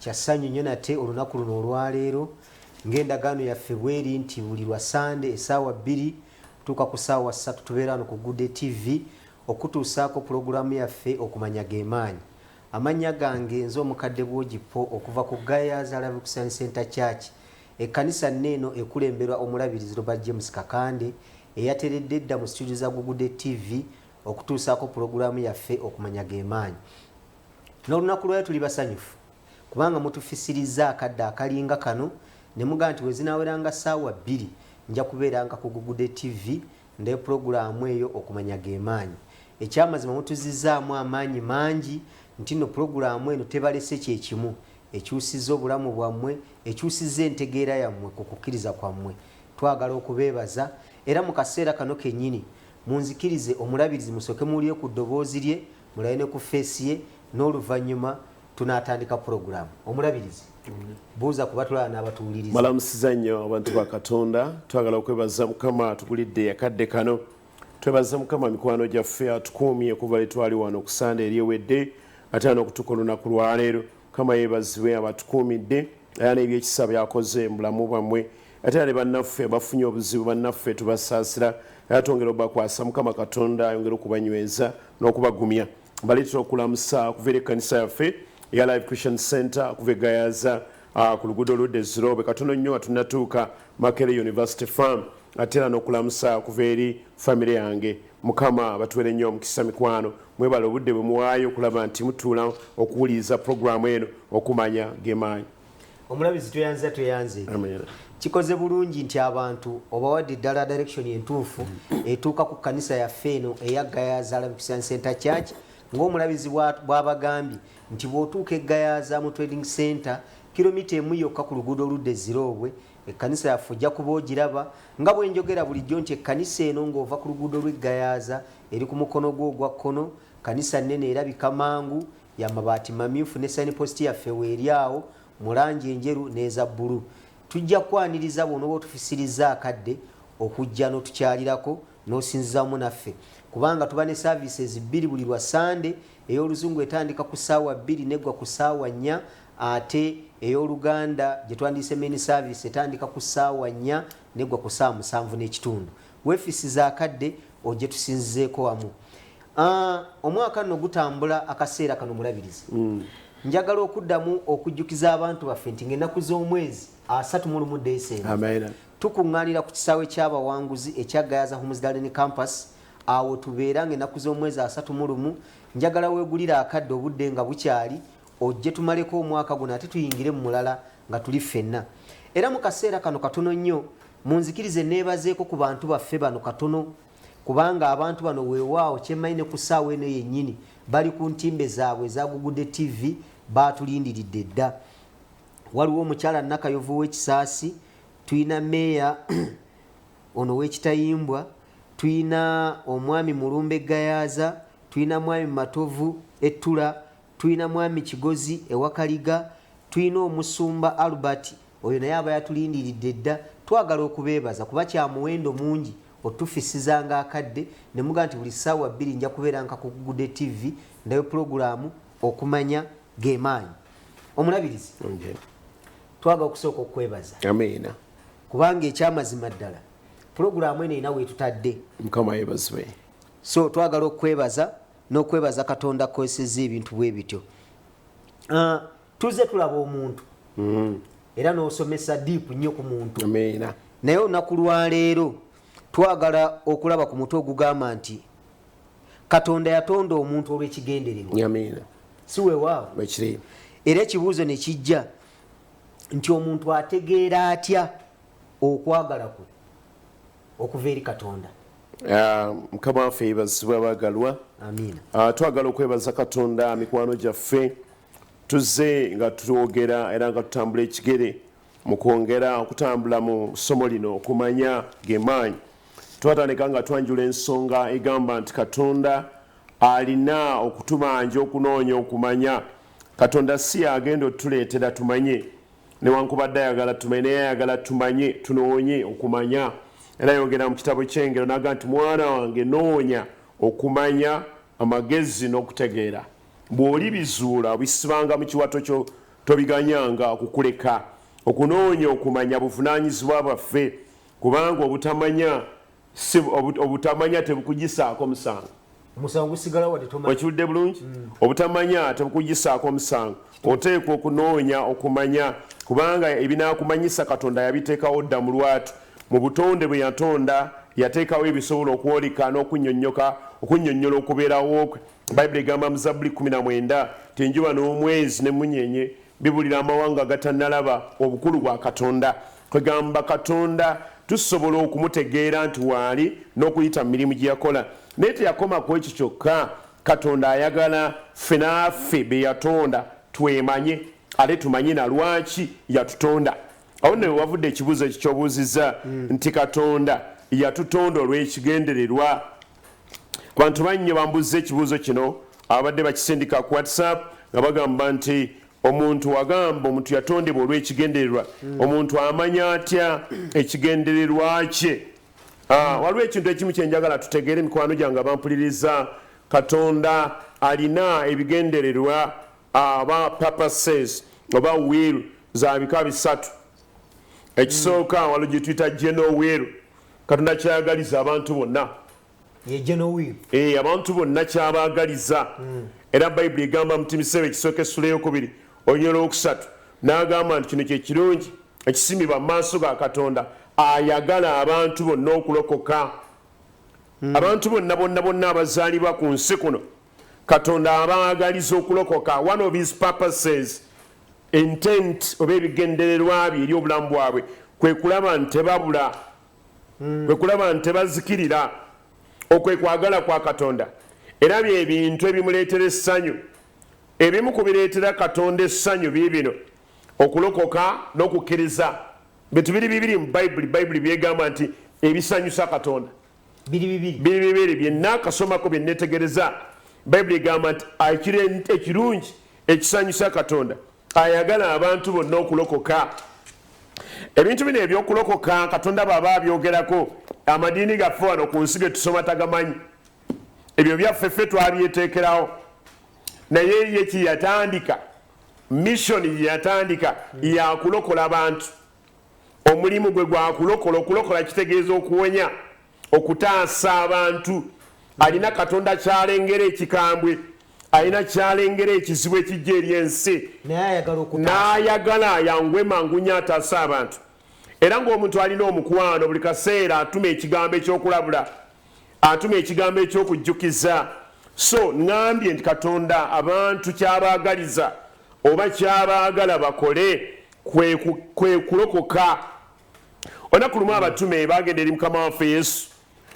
kya ssanyu nnyo nate olunaku luno olwaleero ng'endagaano yaffe bweri nti buli lwa sande esaawa bbiri tuuka ku saawa ssatu tubeera wano ku gude tv okutuusaako pulogulaamu yaffe okumanya gemaanyi amannya gange nze omukadde bwogipo okuva ku gayas alavikusani center church ekkanisa nne eno ekulemberwa omulabirizi robert james kakande eyateredde edda mu situdio za gugude tv okutuusaako pulogulaamu yaffe okumanya gemaanyi N'olunaku lwayo tuli basanyufu kubanga mutufisirizza akadde akalinga kano ne mugamba nti bwe zinaaweranga ssaawa bbiri nja kubeeranga ku Gugude TV nde pulogulaamu eyo okumanya ge maanyi. Ekyamazima mutuzizzaamu amaanyi mangi nti nno pulogulaamu eno tebalese kye kimu, ekyusizza obulamu bwammwe, ekyusizza entegeera yammwe ku kukkiriza kwammwe. Twagala okubeebaza era mu kaseera kano kennyini munzikirize omulabirizi musooke muwulire ku ddoboozi lye Mulabe ne ku face ye n'oluvannyuma tunaatandika pulogulaamu. Omulabirizi, buuza ku batulaba n'abatuwuliriza. Mbalamusiza nnyo abantu ba Katonda. Twagala okwebaza Mukama atugulidde akadde kano. Twebaza Mukama mikwano gyaffe atukuumye okuva lwe twali wano ku Ssande eri ewedde ate anokutuka olunaku lwaleero. Mukama yeebazibwe abatukuumidde. era n'ebyekisa byakoze mu bulamu bwammwe ate era ne bannaffe abafunye obuzibu bannaffe tubasaasira era twongera obakwasa mukama katonda ayongere okubanyweza n'okubagumya baleetera okulamusa okuva eri ekkanisa yaffe eya live christian center okuva egayaza ah, ku luguudo oludda eziroobe katono nnyo nga tunnatuuka makere university farm ate era n'okulamusa okuva eri famire yange Mukama abatwere nnyo omukisa mikwano, mwebale obudde bwe muwaayo okulaba nti mutuula okuwuliriza pulogulaamu eno, okumanya ge maanyi. Omulabisi tweyanziza tweyanziza. Amiina. Kikoze bulungi nti abantu obawadde ddala direction entuufu etuuka ku kkanisa yaffe eno eya Gayaza Arabic Science Center Church ng'omulabizi bwa- bw'abagambye nti bw'otuuka e Gayaza mu Trading Center kilomita emu yokka ku luguudo oludda e Ziroobwe Ekkanisa yaffe ojja kuba ogiraba nga bwe njogera bulijjo nti ekkanisa eno ng'ova ku luguudo lw'e Gayaza eri ku mukono gwo ogwa kkono, kkanisa nnene erabika mangu, ya mabaati mamyufu ne sayinipositi yaffe weeri awo mu langi enjeru n'eza bbulu. Tujja kukwaniriza bw'onooba otufisirizza akadde okujja n'otukyalirako n'osinziza wamu naffe kubanga tuba ne services bbiri buli lwa Ssande Ey'oluzungu etandika ku ssaawa bbiri n'eggwa ku ssaawa nnya ate ey'oluganda gye twandiyise main service etandika ku ssaawa nnya n'eggwa ku ssaawa musanvu n'ekitundu. Weefiisi za kadde ojje tusinzizeeko wamu. Ah, omwaka nno gutambula akaseera kano mulabirizi mm. njagala okuddamu okujjukiza abantu baffe nti ngaennaku z'omwezi asatu mu lumu desemba tukuŋŋaanira ku kisaawe ky'abawanguzi ekya gayaza homesdaleni campus Awo wetubeera nga enaku z'omwezi asatu mu lumu, njagala wegulire akadde obudde nga bukyali, ojje tumaleko omwaka guno ate tuyingire mu mulala nga tuli ffenna. Era mu kaseera kano katono nnyo, munzikirize neebazeeko ku bantu baffe bano katono, kubanga abantu bano weewaawo kyemmanyi ne ku ssaawa eno yennyini bali ku ntimbe zaabwe eza Gugude TV baatulindiridde dda. Waliwo omukyala Nakayovu w'e Kisaasi, tulina Meeya, Ono wekitayimbwa tuyina omwami mulumbe gayaza tuyina mwami matovu ettula tuyina mwami kigozi ewakaliga tuyina omusumba Albert oyo naye aba yatulindiridde dda twagala okubebaza kuba kyamuwendo mungi otufisizanga akadde nemuga nti buli sawa bbiri nja kubera nka ku gude TV ndayo pulogulamu okumanya gemaanyi omulabirizi twagala okusooka okukwebaza Amiina. kubanga ekyamazima ddala pulogulaamu eno erina wetutadde mukama yebazibwe so twagala okwebaza n'okwebaza katonda akozeseza ebintu bwe bityo uh, tuzze tulaba omuntu mm. era n'osomesa diipu nnyo ku muntu naye olunaku lwaleero twagala okulaba ku mutwe ogugamba nti katonda yatonda omuntu olw'ekigendererwa si wewaawo era ekibuuzo ne kijja nti omuntu ategeera atya okwagala kwe okuva eri katonda ah, mukama waffe yebazibwa bagalwa ah, twagala okwebaza katonda mikwano gyaffe tuzze nga twogera era nga tutambula ekigere mu kwongera okutambula mu ssomo lino okumanya gemaanyi twatandika nga twanjula ensonga egamba nti katonda Alina okutubanja okunoonya okumanya. Katonda si y'agenda otuleetera tumanye, newankubadde ayagala tumanye, naye ayagala tumanye, tunoonye okumanya. Era ayogera mu kitabo ky'Engero n'agamba nti, Mwana wange, noonya okumanya, amagezi n'okutegeera. Bw'olibizuula, obisibanga mu kiwato kyo, tobiganyanga okukuleka. Okunoonya okumanya buvunaanyizibwa bwaffe, kubanga obutamanya Ssebo, obu- obutamanya tebukugisaako musango. omusango gusigala wadde tomanyi Okiwulidde bulungi? Obutamanya tebukugisaako musango. Oteekwa okunoonya okumanya kubanga ebinaakumanyisa Katonda yabiteekawo dda mu lwatu. Mu butonde bwe yatonda, yateekawo ebisobola okwoleka n'okunnyonnyoka okunnyonnyola okubeerawo kwe. Bayibuli egamba mu Zabbuli 19 nti enjuba n'omwezi n'emmunyeenye bibuulira amawanga agatannalaba obukulu bwa Katonda. Kwegamba Katonda tusobola okumutegeera nti waali n'okuyita mu mirimu gye yakola. Naye teyakoma ku ekyo kyokka. Katonda ayagala ffe n'affe be yatonda twemanye ate tumanye na lwaki yatutonda. Awo nno we wavudde ekibuuzo ekyo ky'obuuzizza nti Katonda yatutonda olw'ekigendererwa. Abantu bangi nnyo bambuuzza ekibuuzo kino ababadde bakisindika ku WhatsApp nga bagamba nti, Omuntu wagamba omuntu yatondebwa olwekigendererwa omuntu amanya atya ekigendererwa kye ah, waliwo ekintu ekimu kyenjagala tutegeere mikwano gyange abampuliriza katonda alina ebigendererwa aba ah, purposes oba will za bika bisatu ekisooka walo gyetuyita geno will katonda kyayagaliza abantu bonna eh, abantu bonna kyabaagaliza mm. era bayibuli egamba muti miseera ekisooka essula eyokubiri olunyolo okusatu n'agamba nti kino kyekirungi ekisimibwa mu maaso ga katonda ayagala abantu bonna okulokoka hmm. abantu bonna bonna bonna abazaalibwa ku nsi kuno katonda abaagaliza okulokoka one of his purposes intent oba ebigendererwa bye eri obulamu bwabwe kwe kulaba nti tebabula hmm. kwe kulaba nti tebazikirira okwe kwagala kwa katonda era bye bintu ebimuleetera essanyu ebimu ku bireetera katonda essanyu biibino okulokoka n'okukkiriza bintu biri bibiri mu bayibuli bayibuli byegamba nti ebisanyusa katonda biri bibiri byenna akasomako byenetegereza bayibuli egamba nti ekirungi ekisanyusa katonda ayagala abantu bonna okulokoka ebintu bino ebyokulokoka katonda baba abyogerako amadiini gaffe wano ku nsi getusoma tagamanyi ebyo byaffe ffe twabyetekerawo naye ye kyeyatandika misoni yeyatandika yakulokola bantu omulimu gwe gwakulokola okulokola kitegeeza okuwonya okutaasa abantu alina katonda kyalengera ekikambwe alina kyalengera ekizibu ekijja eri ensi n'ayagala ayangwe mangunya ataase abantu era ng'omuntu alina omukwano buli kaseera atuma ekigambo ekyokulabula atuma ekigambo ekyokujjukiza so ŋambye nti katonda abantu kyabaagaliza oba kyabaagala bakole kwe kulokoka olunaku lumu abatume bagenda eri mukama waffe yesu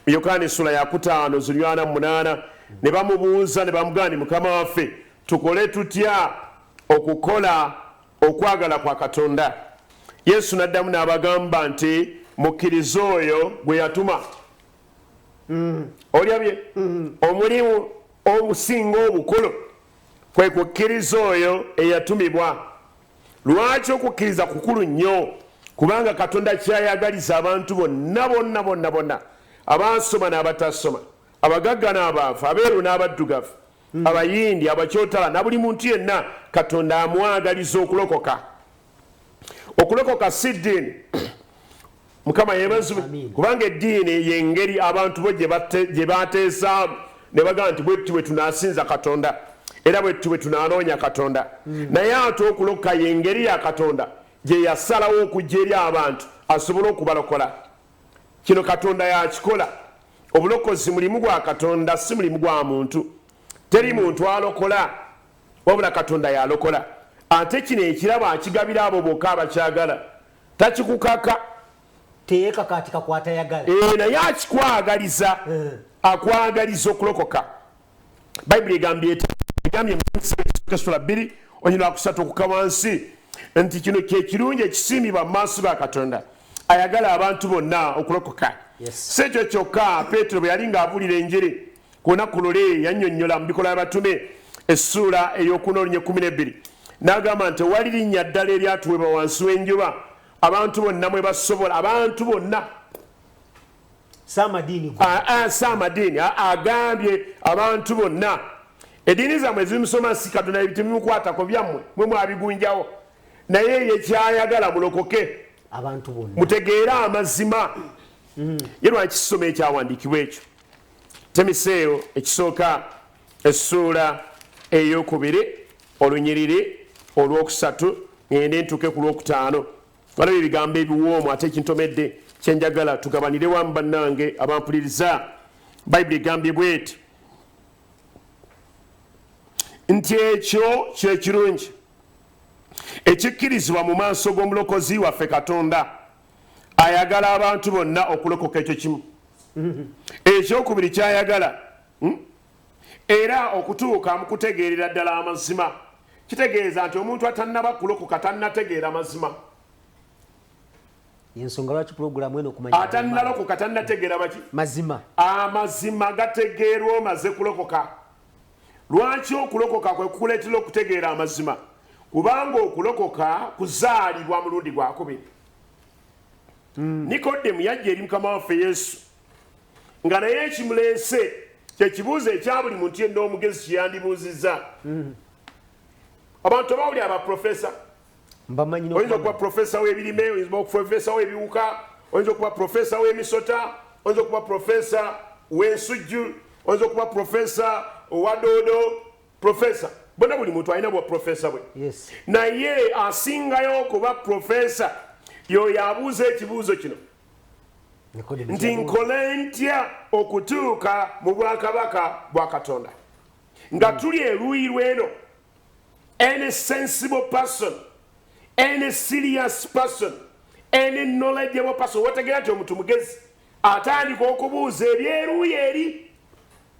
yokaana essula yakutaano zinywana mu munaana ne bamubuuza ne bamugamba ni mukama waffe tukole tutya okukola okwagala kwa katonda yesu n'addamu n'abagamba nti mukkirize oyo gwe yatuma mm. olyabye mm. omulimu omusinga obukulu kwe kukkiriza oyo eyatumibwa Lwaki okukkiriza kukulu nnyo? Kubanga Katonda ky'ayagaliza abantu bonna bonna bonna bonna, abaasoma n'abatasoma, abagagga n'abaavu, abeeru n'abaddugavu, hmm. Abayindi, Abakyotala na buli muntu yenna, Katonda amwagaliza okulokoka. Okulokoka si ddiini. mukama yebazibwe kubanga eddiini yengeri abantu bo gye bateesaamu ne bagamba nti bwetti bwe tunasinza katonda era bwetti bwe tunanoonya katonda hmm. naye ate okuloka yengeri ya katonda gye yasalawo okujja eri abantu asobole okubalokola kino katonda yakikola obulokozi mulimu gwa katonda si mulimu gwa muntu teri muntu alokola wabula katonda yalokola ate kino ekirabo akigabira abo boka abakyagala takikukaka teyekakatika kwatayagala eh, naye akikwagaliza eh. akwagaliza okulokoka bayibuli egambye eti egambye muesula bbiri onyina wakusatu okuka wansi nti kino kyekirungi ekisiimibwa mu maaso ga katonda ayagala abantu bonna okulokoka si ekyo kyokka petero bwe yali ng'abuulira enjiri Ku lunaku luli yannyonnyola mu Bikolwa by'Abatume essuula ey'okuna olunya ekkumi n'ebbiri n'agamba nti tewali linnya ddala eryatuweebwa wansi w'enjuba abantu bonna mwe basobola abantu bonna saamadiini agambye abantu bonna eddiini zammwe ezimusoma si katonda ebitemukwatako byammwe mwe mwabigunjawo naye yekyayagala mulokoke mutegeere amazima mm. ye lwaki kisoma ekyawandiikibwa ekyo Timoseewo ekisooka essuula ey'okubiri olunyiriri olw'okusatu ngende ntuuke ku lw'okutaano balaba ebigambo ebiwoomu ate ekintomedde kyenjagala tugabanire wamu bannange abampuliriza bayibuli egambye bweti nti ekyo kyekirungi ekikkirizibwa mu maaso g'omulokozi waffe katonda ayagala abantu bonna okulokoka ekyo kimu ekyokubiri kyayagala hmm? era okutuuka mu kutegeerera ddala amazima kitegeeza nti omuntu atannaba kulokoka tannategeera mazima yensonga lwaki pulogulamu eno okumanya atannalokoka tannategeera baki mazima amazima gategeerwa omaze kulokoka Lwaki okulokoka kwe kukuleetera okutegeera amazima? Kubanga okulokoka kuzaalibwa mulundi gwakubiri. Hmm. Nikodemu yajja eri mukama waffe Yesu nga naye ekimuleese kye kibuuzo ekya buli muntu yenna omugezi kye yandibuuzizza. Hmm. Abantu abawuli abaprofesa oyinza okuba profesa w'ebirime oyinza okuba profesa w'ebiwuka oyinza okuba profesa w'emisota oyinza okuba profesa w'ensujju oyinza okuba profesa owa doodo profesa bona buli muntu alina bwa profesa bwe naye asingayo okuba profesa yoyo abuuza ekibuuzo kino nti nkole ntya okutuuka mu bwakabaka bwa katonda nga hmm. tuli eruuyi lweno any sensible person any serious person any knowledgeable person wategera nti omuntu mugezi atandika okubuuza ebyeruuyi eri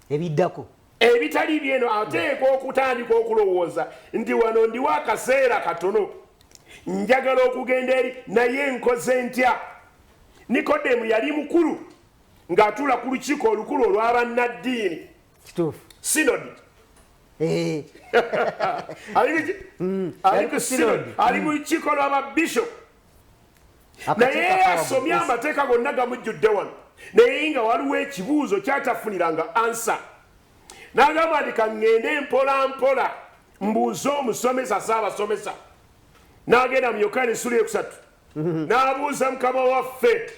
ebiddako ebitali byeno ateekwa okutandika okulowooza nti wano ndiwo akaseera katono njagala okugenda eri naye nkoze ntya nikodemu yali mukulu ng'atuula ku lukiiko olukulu olw'abannaddiini kituufu sinodi eh. mm. ali ku sinodi ali mu lukiiko mm. lwababishop naye asomye amateeka gonna gamujjudde wano naye nga waliwo ekibuuzo kyatafuniranga ansa nagamba nti kaŋŋende mpola mpola mbuuze omusomesa saabasomesa n'agenda mu yokaani esula eyokusatu mhm. n'abuuza mukama waffe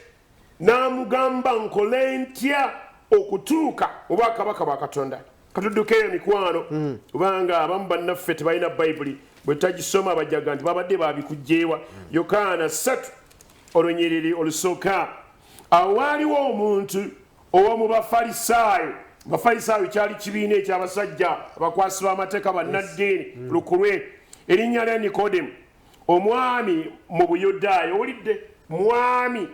n'amugamba nkole ntya okutuuka obwakabaka bwa katonda katudduka eyo mikwano mhm. kubanga abamu bannaffe tebalina bayibuli bwe tutagisoma bajaga nti babadde babikugjeewa mhm. yokaana ssatu olunyiriri olusooka awo waaliwo omuntu owomu bafalisaayo bafalisaayo kyali kibiina ekyabasajja abakwasi b'amateeka bannaddiini lukulwe erinnya lya nikodemu Omwami mu Buyudaaya, owulidde? Mwami.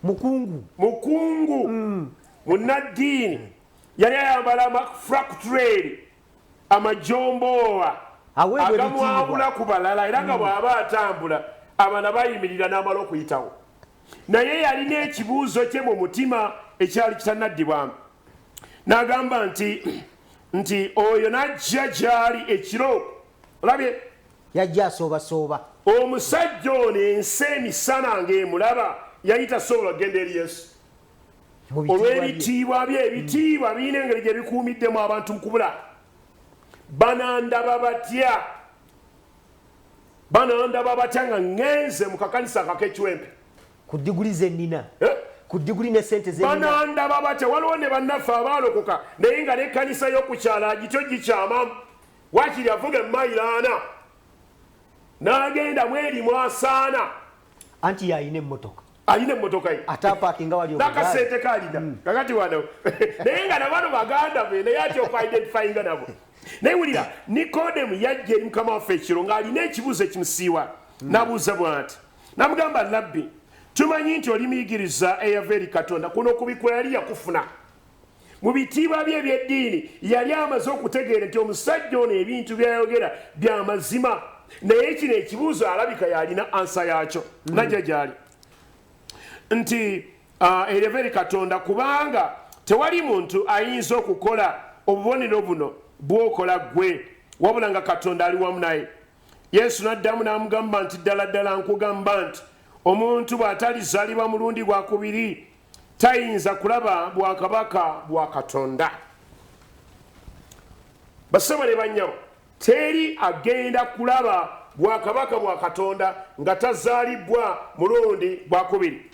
Mukungu. Mukungu. Mm. Munnaddiini. Yali ayambala amafrakutureeri, amajomboowa agamwawula ku balala era nga mm. bw'aba atambula abaana bayimirira n'amala okuyitawo. Naye yalina ekibuuzo kye mu mutima ekyali kitannaddibwamu. N'agamba nti, nti oyo n'ajja gy'ali ekiro, olabye? Yajja asoobasooba. Omusajja ono ensi emisana ng'emulaba, yali tasobola kugenda eri Yesu. Olw'ebitiibwa bye, ebitiibwa birina engeri gye bikuumiddemu abantu mu kubula. Banandaba batya? Banandaba batya nga ŋŋenze mu kakanisa akakekiwempe? Ku diguli ze nnina. Eh? ku diguli ne sente zebanandaba batya waliwo ne bannaffe abaalokoka naye nga n'ekkanisa y'okukyala agityo gikyamamu Waakiri avuga emmayiro ana n'agenda mweri mwasaana. Anti y'alina emmotoka. alina emmotoka ye nakasente kalina hmm. kakati wano naye nga nabano baganda be naye ati okwidentifyinga nabo naye wulira nikodemu yajja eri mukama waffe ekiro ng'alina ekibuuzo ekimusiiwa hmm. nabuuza bwati namugamba labbi tumanyi nti oli muyigiriza eyava eri katonda kuno kubikula yali yakufuna mu bitiibwa bye eby'eddiini yali amaze okutegeera nti omusajja ono ebintu byayogera bya mazima naye kino ekibuuzo alabika yalina ansa yaakyo mm. najja gyali nti ah, ereva eri katonda kubanga tewali muntu ayinza okukola obubonero buno bwokola ggwe wabula nga katonda ali wamu naye yesu n'addamu n'amugamba nti ddala ddala nkugamba nti omuntu bw'atalizalibwa mulundi gwakubiri tayinza kulaba bwakabaka bwa katonda basebo ne banyabo teri agenda kulaba bwakabaka bwa katonda nga tazaalibwa mulundi gwakubiri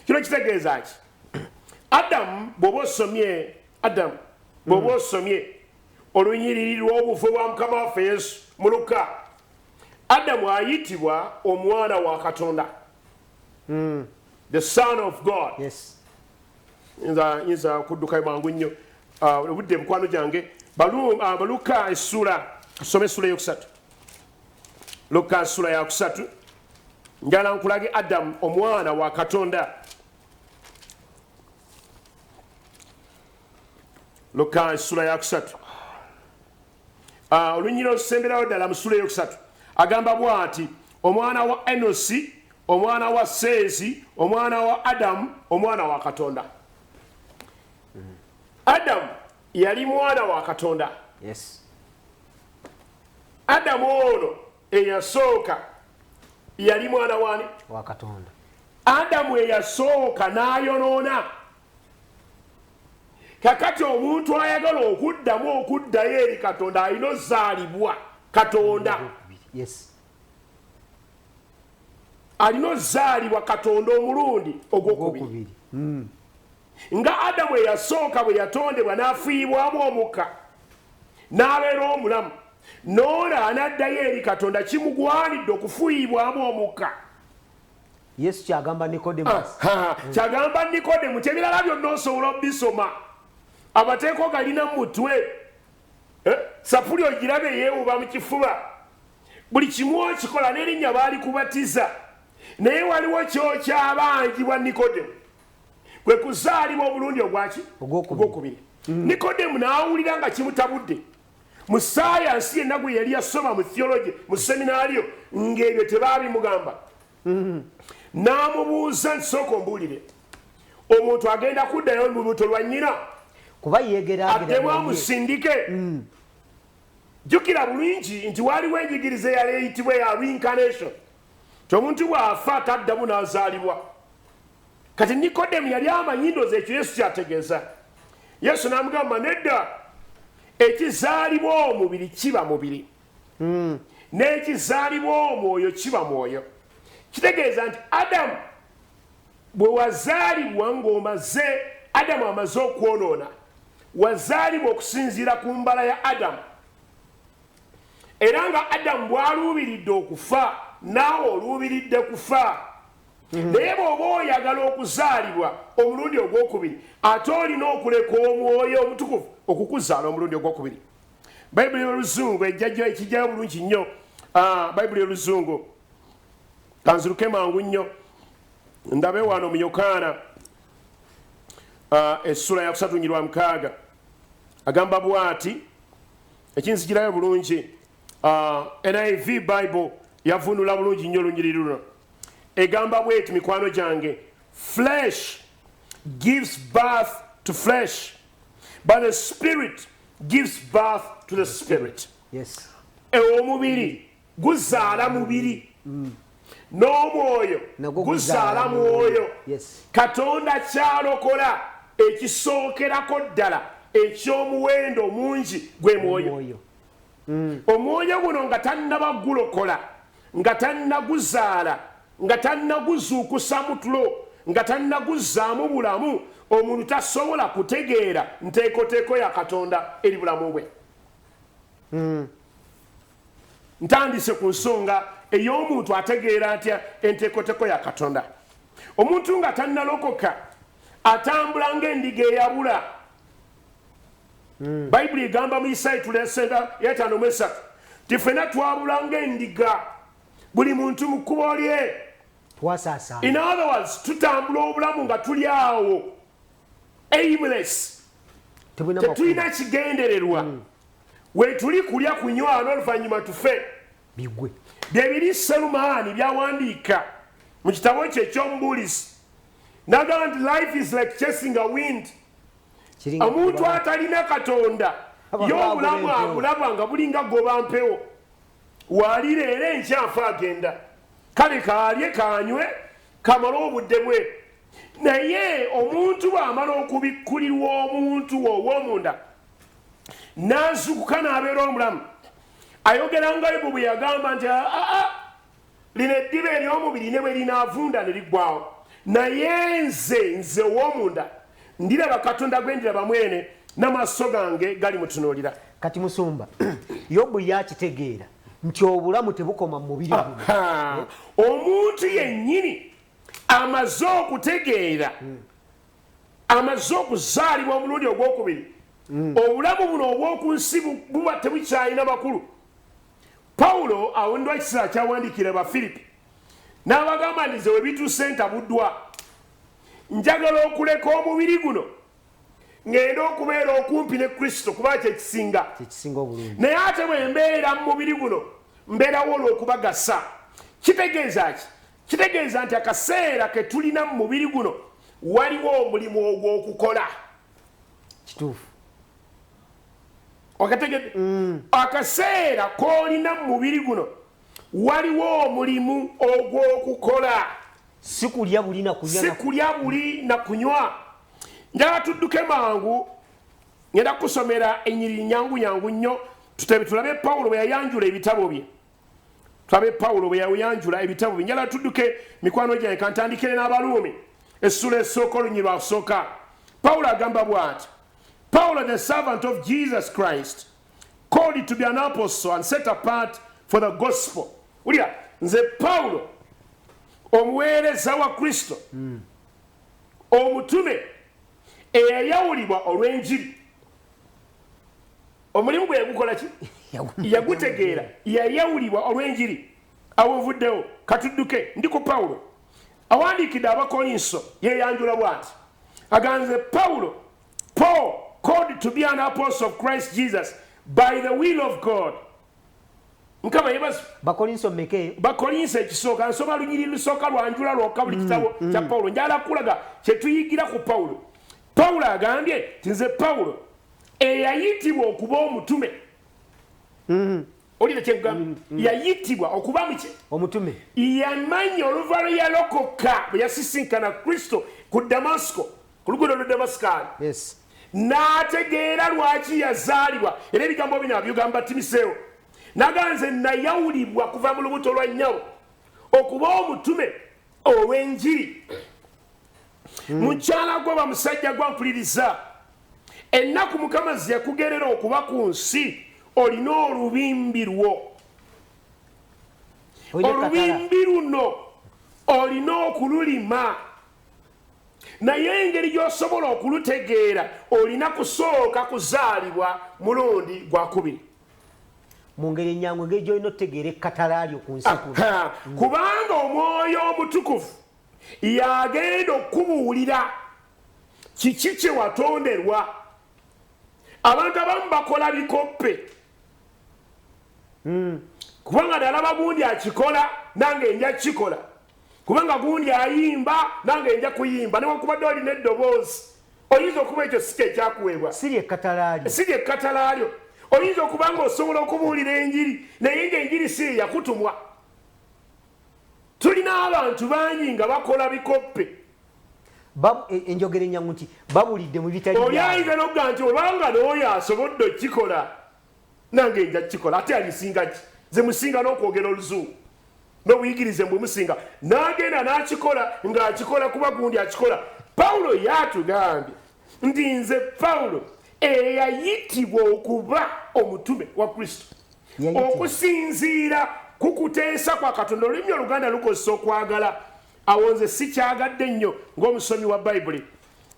kino kitegeeza ki adamu bwoba osomye adamu bwoba hmm. osomye olunyiriri lw'obufu bwa mukama waffe yesu muluka adamu ayitibwa omwana wa katonda mm. the son of god yes. nza nza kuduka mangu nyo ah, obudde uh, bukwano jange balu uh, ah, baluka esula some sula yokusatu luka sula ya kusatu njala nkulage adam omwana wa katonda luka sula ya kusatu ah, olunyira olusemberayo ddala musula eyokusatu agamba bwati omwana wa enosi omwana wa seezi omwana wa adamu omwana wa katonda adamu yali mwana wa katonda yes. adamu ono eyasooka yali mwana wani wakatonda adamu eyasooka nayonoona kakati omuntu ayagala okuddamu okuddayo eri katonda alina ozaalibwa katonda alina ozaalibwa katonda omulundi ogwokubiri hmm. nga adamu eyasooka bwe yatondebwa n'afiibwamu omukka n'abeera omulamu noola anaddayo eri katonda kimugwanidde okufuyiibwamu omukka yesu kyagamba nikodemu kyagamba nikodemu kyebirala byonna osobola obisoma abateeko galina mutwe eh, sapuli ogirabe yewuba mu kifuba buli kimu okikola nerinnya baali kubatiza naye waliwo kyokyabanjibwa nikodemu kwe kuzaalibwa obulundi ogwaki ogwokubiri mm. nikodemu naawulira nga kimutabudde mu sayansi yenna gwe yali yasoma mu theology mu seminario ng'ebyo tebaabimugamba mm-hmm. n'amubuuza nti sooka ombuulire omuntu agenda kuddayo mu lubuto lwa nnyina kuba yegeraaddemu amusindike mm. jjukira bulungi nti waliwo enjigiriza eyali eyitibwa eya reincarnation Ti omuntu bw'afa taddamu n'azaalibwa. Kati Nikodemu yali amanyi ndoozi ekyo Yesu kyategeeza. Yesu n'amugamba nedda, ekizaalibwa omubiri kiba mubiri. Hmm. N'ekizaalibwa omwoyo kiba mwoyo. Kitegeeza nti Adamu bwe wazaalibwa ng'omaze Adamu amaze okwonoona, wazaalibwa okusinziira ku mbala ya Adamu. era nga adamu bwaluubiridde okufa naawe oluubiridde kufa mhm. naye bwoba oyagala okuzaalibwa omulundi ogwokubiri ate olina okuleka omwoyo omutukuvu okukuzaala omulundi ogwokubiri bayibuli oluzungu ejjajo ekijjayo bulungi nnyo ah, bayibuli oluzungu kanziruke mangu nnyo ndabe wano mu yokaana ah, essula yakusatu nyirwa mukaaga agamba bwati ekinzikirayo bulungi uh, niv bible yavunula bulungi nnyo olunyiriri luno egamba bweti mikwano gyange flesh gives birth to flesh but the spirit gives birth to the spirit yes. e omubiri guzaala mubiri mm. n'omwoyo guzaala mwoyo katonda kyalokola ekisookerako ddala eky'omuwendo omungi gwe mwoyo mm. omwoyo guno nga tannaba gulokola nga tannaguzaala nga tannaguzuukusa mutulo nga tannaguzzaamu bulamu omuntu tasobola kutegeera nteekoteeko ya katonda eri bulamu bwe mm. ntandise ku nsonga ey'omuntu ategeera atya enteekoteko ya katonda omuntu nga tannalokoka atambula ng'endiga eyabula hmm. bayibuli egamba mu isaayi tulesenda yataano mu esatu ti ffena twabula ng'endiga buli muntu mu kkubo lye in other words tutambula obulamu nga tuli awo aimless tetulina kigendererwa mm. Wetuli kulya kunywa n'oluvannyuma tufe. Bigwe. Bye biri Serumaani by'awandiika mu kitabo kye eky'omubuulizi. N'agamba nti life is like chasing a wind. Omuntu atalina Katonda ye obulamu abulaba nga bulinga goba mpewo. Waali leero enkya afa agenda. Kale kaalye kaanywe kamale obudde bwe. Naye omuntu bw'amala okubikkulirwa omuntu ow'omunda. n'azukuka n'abeera omulamu ayogera nga yobu bwe yagamba nti aa ah, ah, ah, lino eddiba ery'omubiri ne bwe linaavunda ne liggwawo naye nze nze ow'omunda ndiraba katonda gwe ndiraba mwene n'amaaso gange gali mutunuulira kati musumba yobu yakitegeera nti obulamu tebukoma mu mubiri omuntu yennyini amaze okutegeera hmm. amaze okuzaalibwa omulundi ogwokubiri mm. obulamu buno obwoku nsi buba tebukyalina makulu pawulo awondwa ekiseera kyawandiikira bafiripi n'abagamba nti ze webituuse ntabuddwa njagala okuleka omubiri guno ng'enda okubeera okumpi ne kristo kuba kyekisinga naye ate bwe mbeera mu mubiri guno mbeerawo olw'okubagasa kitegeeza ki Kitegeeza nti akaseera ke tulina mu mubiri guno waliwo omulimu ogw'okukola. Kituufu. Okategedde? Mm. Akaseera k'olina mu mubiri guno waliwo omulimu ogw'okukola. Si kulya buli na kunywa. Si kulya buli na kunywa. Njala tudduke mangu, ngenda kusomera enyiriri nyangu nyangu nnyo, tutulabe Pawulo bwe yayanjula ebitabo bye. tulabe pawulo bwe yawuyanjula ebitabo binjala tudduke mikwano gyange kantandikire n'abaluumi essula esooka olunyi lwakusooka pawulo agamba bw'ati pawulo the servant of jesus christ called to be an apostle and set apart for the gospel wulira nze pawulo omuweereza wa kristo mm. omutume eyayawulibwa olw'enjiri omulimu gwe yagukola ki yagutegeera yayawulibwa olw'enjiri awovuddewo katudduke ndi ku pawulo awandiikidde abakolinso yeyanjula bwati aganze pawulo paul called to be an apostle of christ jesus by the will of god mukama yebazi bakolinso meke bakolinso ekisooka nsoma lunyiri lusooka lwanjula lwoka buli mm, kitabo mm. kya pawulo njala kulaga kyetuyigira ku pawulo pawulo agambye nti nze pawulo eyayitibwa okuba omutume mm-hmm. olina kyegamba mm, mm. yayitibwa okuba muki omutume yamanya oluva lwe yalokoka bwe yasisinkana kristo ku damasiko ku luguudo lwe damasikaali n'ategeera lwaki yazaalibwa era ebigambo bino abyogamba timiseewo naga nze nayawulibwa kuva mu lubuto lwa nyawo okuba omutume olw'enjiri hmm. mukyala gwe oba musajja gwa mpuliriza ennaku mukama ziyakugerera okuba ku nsi olina olubimbi lwo olubimbi luno olina okululima naye engeri gyosobola okulutegeera olina kusooka kuzaalibwa mulundi gwakubiri mungeri enyangu engeri gyolina otutegeera ekkatala lyo ku nsi kubanga omwoyo omutukuvu y'agenda okukubuulira kiki kye watonderwa abantu abamu bakola bikoppe hmm. kubanga nalaba gundi akikola nange nja kukikola kubanga gundi ayimba nange nja kuyimba newakubadde olina eddoboozi oyinza okuba ekyo sika ekyakuweebwa siri ekkatalaalyo oyinza okuba nga osobola okubuulira enjiri naye nga enjiri si eyakutumwa tulina abantu bangi nga bakola bikoppe e, enjogera enyangu nti babulidde mu bitali oli ayinza nokuga nti obanga nooyo asobodde okukikola nange nja kukikola ate alisinga ki ze musinga n'okwogera oluzungu n'obuyigirize mbwe musinga n'agenda n'akikola ng'akikola kuba gundi akikola pawulo yatugambye nti nze pawulo eyayitibwa okuba omutume wa kristo okusinziira ku kuteesa kwa katonda olulimi oluganda lukozesa okwagala awo nze sikyagadde nnyo ng'omusomi wa bayibuli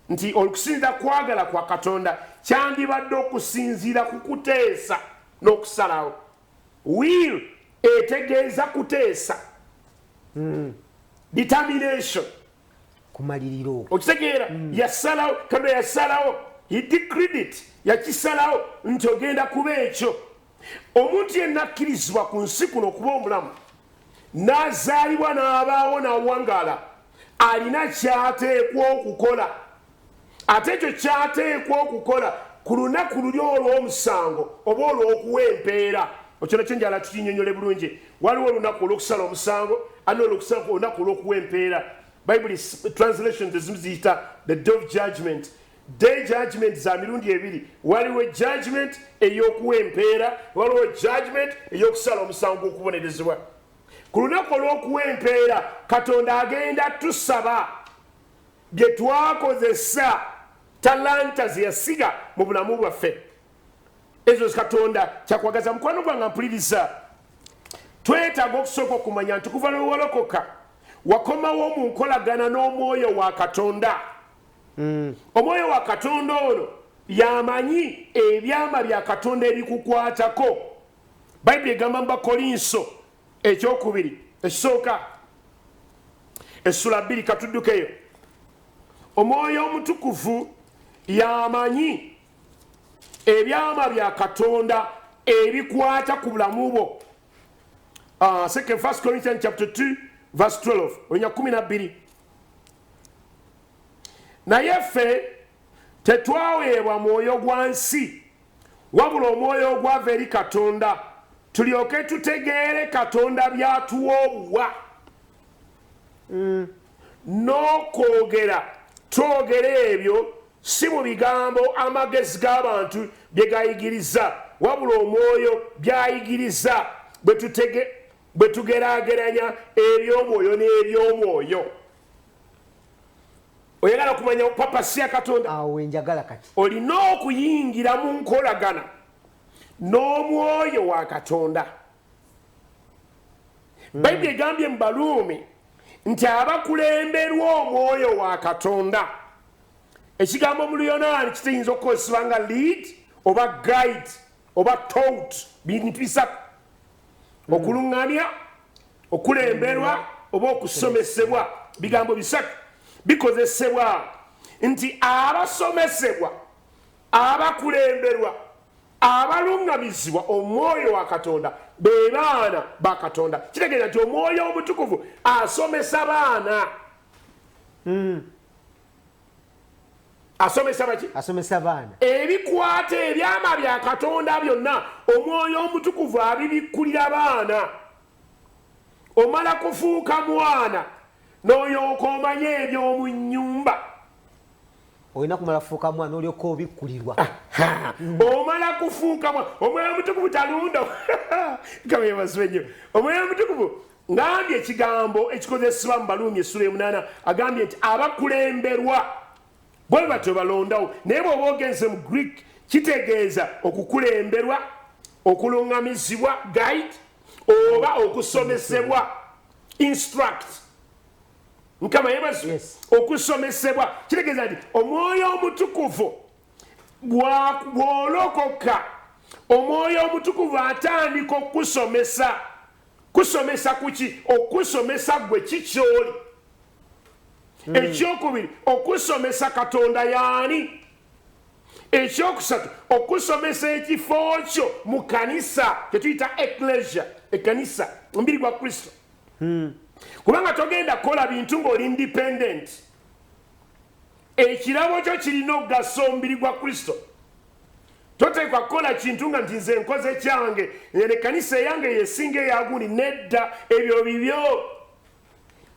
nti okusinziira kwagala kwa katonda kyandibadde okusinziira ku kuteesa n'okusalawo will etegeeza kuteesa hmm. determination kumaliriro okitegeera hmm. yasalawo katonda yasalawo he decreed it yakisalawo nti ogenda kuba ekyo omuntu yenna akkirizibwa ku nsi kuno okuba omulamu n'azaalibwa n'abaawo n'awangaala alina kyateekwa okukola ate ekyo kyateekwa okukola ku lunaku luli olw'omusango oba olw'okuwa empeera okyona kyo njala tukinyonyole bulungi waliwo olunaku olwokusala omusango ani olwokusala olunaku olwokuwa empeera bible translation tezimu ziyita the day of judgment day judgment za mirundi ebiri waliwo judgment eyokuwa empeera waliwo judgment eyokusala omusango gwokubonerezebwa ku lunaku olwokuwa empeera katonda agenda tusaba Bye twakozesa, talanta ze yasiga mu bulamu bwaffe, ezo Katonda kyakwagaza. Mukwano gwanga mpuliriza, twetaaga okusooka okumanya nti kuva lwe walokoka wakomawo mu nkolagana n'omwoyo wa Katonda. Mm. Omwoyo wa Katonda ono yamanyi ebyama bya Katonda ebikukwatako. Bayibuli egamba mu Bakolinso ekyokubiri ekisooka essula bbiri katuddukeyo omwoyo omutukuvu yamanyi ebyama bya katonda ebikwata ku bulamu bwo ah, second first corinthian chapter 2 verse 12 onya 12 naye ffe tetwaweebwa mwoyo gwa nsi Wabula omwoyo ogwava eri Katonda, tulyoke tutegeere Katonda by'atuwa obuwa. Mm. N'okwogera twogera ebyo si mu bigambo amagezi g'abantu bye gayigiriza, wabula omwoyo by'ayigiriza bwe tugeraageranya eby'omwoyo n'eby'omwoyo. oyagala kumanya papasi ya katonda awo wenjagala kati olina okuyingira mu nkolagana n'omwoyo wa katonda hmm. bayibuli egambye mu baluumi nti abakulemberwa omwoyo wa katonda ekigambo mu luyonaani kiteyinza okukozesebwa nga lead oba guide oba tout bintu bisatu hmm. okuluŋŋamya okulemberwa oba okusomesebwa bigambo bisatu bikozesebwa nti abasomesebwa abakulemberwa abaluŋŋamizibwa omwoyo wa katonda be baana ba katonda kitegeeza nti omwoyo omutukuvu asomesa baana hmm. asomesa baki asomesa baana ebikwata ebyama bya katonda byonna omwoyo omutukuvu abibikkulira abaana omala kufuuka mwana noyooka omanye ebyomu nyumba olina kumala kufuuka mwana olyoka obikkulirwa omala kufuuka omwoyo omutukuvu talunda kabebazibe nyo omwoyo omutukuvu ngambye ekigambo ekikozesebwa mu baluumi essula emunaana agambye nti abakulemberwa bwe batyo balondawo naye bweoba ogenze mu greek kitegeeza okukulemberwa okulungamizibwa guide oba okusomesebwa instruct mukama yebazi okusomesebwa kitegeeza nti omwoyo omutukuvu bwolokoka omwoyo omutukuvu atandika okukusomesa kusomesa kuki okusomesa gwe kikyoli hmm. ekyokubiri okusomesa katonda yaani ekyokusatu okusomesa ekifo kyo mu kanisa kyetuyita eklesia ekanisa omubiri gwa kristo hmm. kubanga togenda kukola bintu ngaoli independent ekirabo kyo kirina okugasa omubiri gwa kristo toteekwa kukola kintu nga nti nze nkoze kyange ene kanisa eyange yesinga eyagundi nedda ebyo bibyo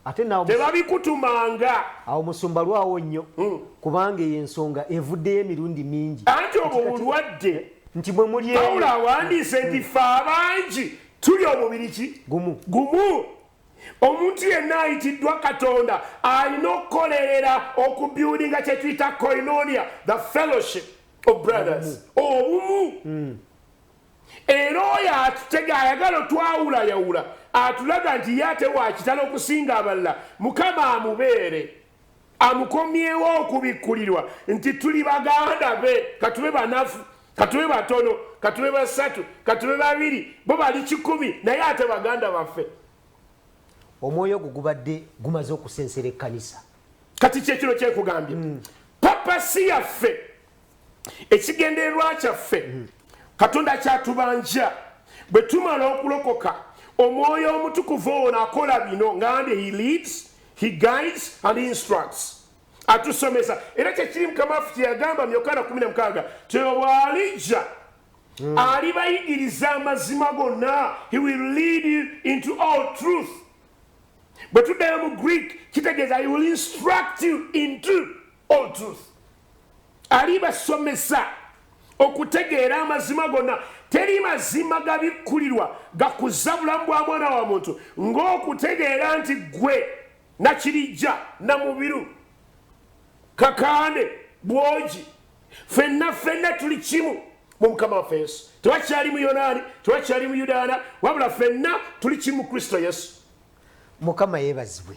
ate tebabikutumanga awo musumba lwawo nnyo hmm. kubanga eyo ensonga evuddeyo emirundi mingi anti obwo bulwadde nti bwe mulypawulo awandiise nti hmm. fe abangi tuli omubiri ki gumu gumu omuntu yenna ayitiddwa katonda alina okukolerera okubyulinga kyetuyita koinonia the fellowship of brothers obumu hmm. era oyo atutega ayagala otwawulayawula atulaga nti ye ate wakitala okusinga abalala mukama amubeere amukomyewo okubikkulirwa nti tuli baganda be katube banafu katube batono katube basatu katube babiri bo bali kikumi naye ate baganda baffe omwoyo ogwo gubadde gumaze okusensera ekkanisa kati kyekino kyekugambye mm. papasi yaffe ekigendererwa kyaffe mm. katonda akyatubanja bwe tumala okulokoka omwoyo omutukuvu ono akola bino ngandi he leads he guides and instructs atusomesa era kyekiri mukama waffe kyeyagamba muyokana 16 tewaalijja hmm. alibayigiriza amazima gonna he will lead you into all truth bwe tuddayo mu greek kitegeeza he will instruct you into all truth alibasomesa okutegeera amazima gonna teri mazima gabikkulirwa gakuza bulamu bwa mwana wa muntu ng'okutegeera nti ggwe nakirijja namubiru kakande bwogi fenna fenna tuli kimu mu mukama waffe yesu tewakyali mu yonaani tewakyali mu yudaana wabula fenna tuli kimu kristo yesu mukama yebazibwe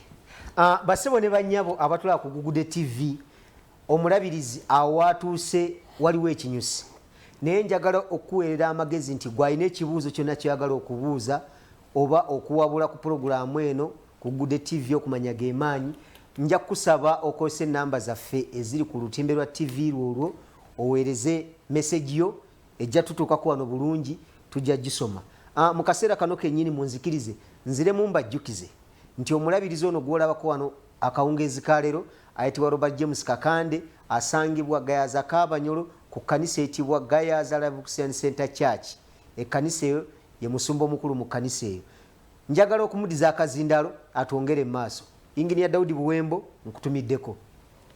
ah, basebo ne banyabo abatulaba ku gugude tv omulabirizi awaatuuse waliwo ekinyusi naye njagala okukuweerera amagezi nti gwalina ekibuuzo kyonna kyoyagala okubuuza oba okuwabula ku pulogulaamu eno ku gugude tv okumanya gemaanyi nja kukusaba okozesa enamba zaffe eziri ku lutimbe lwa tv lwolwo oweereze meseji yo Ejja tutuukako wano bulungi, tujja gisoma. A, mu kaseera kano kennyini, munzikirize nziremu mbajjukize nti omulabirizi ono gw'olabako wano akawungeezi ka leero ayitibwa Robert James Kakande, asangibwa Gayaza Kabanyolo ku kkanisa eyitibwa Gayaza Liveaxian Centre Church. Ekkanisa eyo, ye musumba omukulu mu kkanisa eyo. Njagala okumudiza akazindaalo atwongere mumaaso. Engineer Daudi Buwembo nkutumiddeko.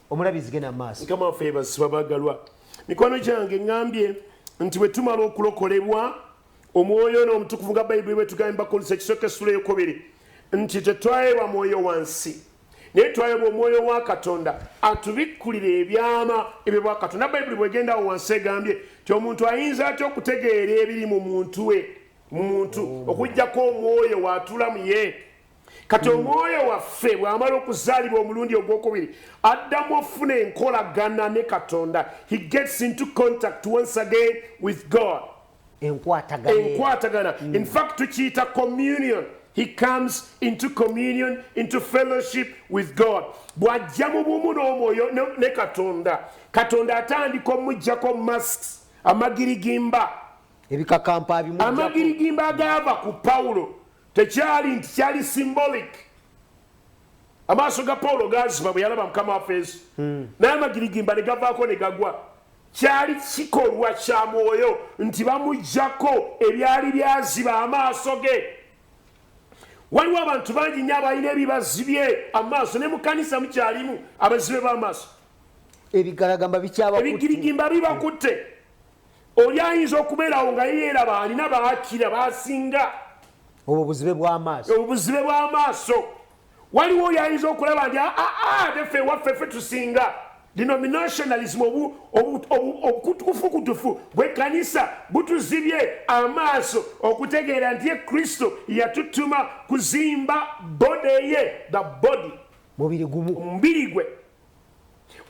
Omulabi nzige na maaso. Mukama waffe yebazibwa bagalwa. Mikwano gyange ngambye nti bwe tumala okulokolebwa omwoyo ono omutukuvu nga bayibuli bwetugambye bakolesa ekisooka essula eyokubiri nti tetwayebwa mwoyo wansi naye twayebwa omwoyo wa katonda atubikkulira ebyama ebyo bwa katonda bayibuli bwegendawo wansi egambye ti omuntu ayinza atya okutegeera ebiri mu muntu we mu muntu oh. okujjako omwoyo waatula mu ye kati omwoyo waffe bw'amala okuzaalibwa omulundi ogwokubiri addamu ofuna enkolagana ne katonda he gets into contact once again with god enkwatagana mm. in fact tukiyita communion he comes into communion into fellowship with god bw'ajja mu bumu n'omwoyo ne katonda katonda atandika omujjako masks amagirigimba amagirigimba agaava ku pawulo tekyali nti kyali symbolic amaaso ga pawulo gaziba bwe yalaba mukama waffe yesu hmm. naye amagirigimba ne gavaako ne gagwa kyali kikolwa kya mwoyo nti bamugjako ebyali byaziba amaaso ge waliwo abantu bangi nyo abalina ebibazibye amaaso ne mukanisa mukyalimu abazibe b'amaaso ebigirigimba bibakutte Oli ayinza okubeerawo nga yeeraba alina baakira baasinga. Obwo buzibe bw'amaaso. Obwo buzibe bw'amaaso. Waliwo oli ayinza okulaba nti aa ah, ah, ah, tefe waffe fe tusinga denominationalism obukutukufukutufu bwekkanisa butuzibye amaaso okutegeera nti ye kristo yatutuma kuzimba bode ye the body mubiri gumu omubiri gwe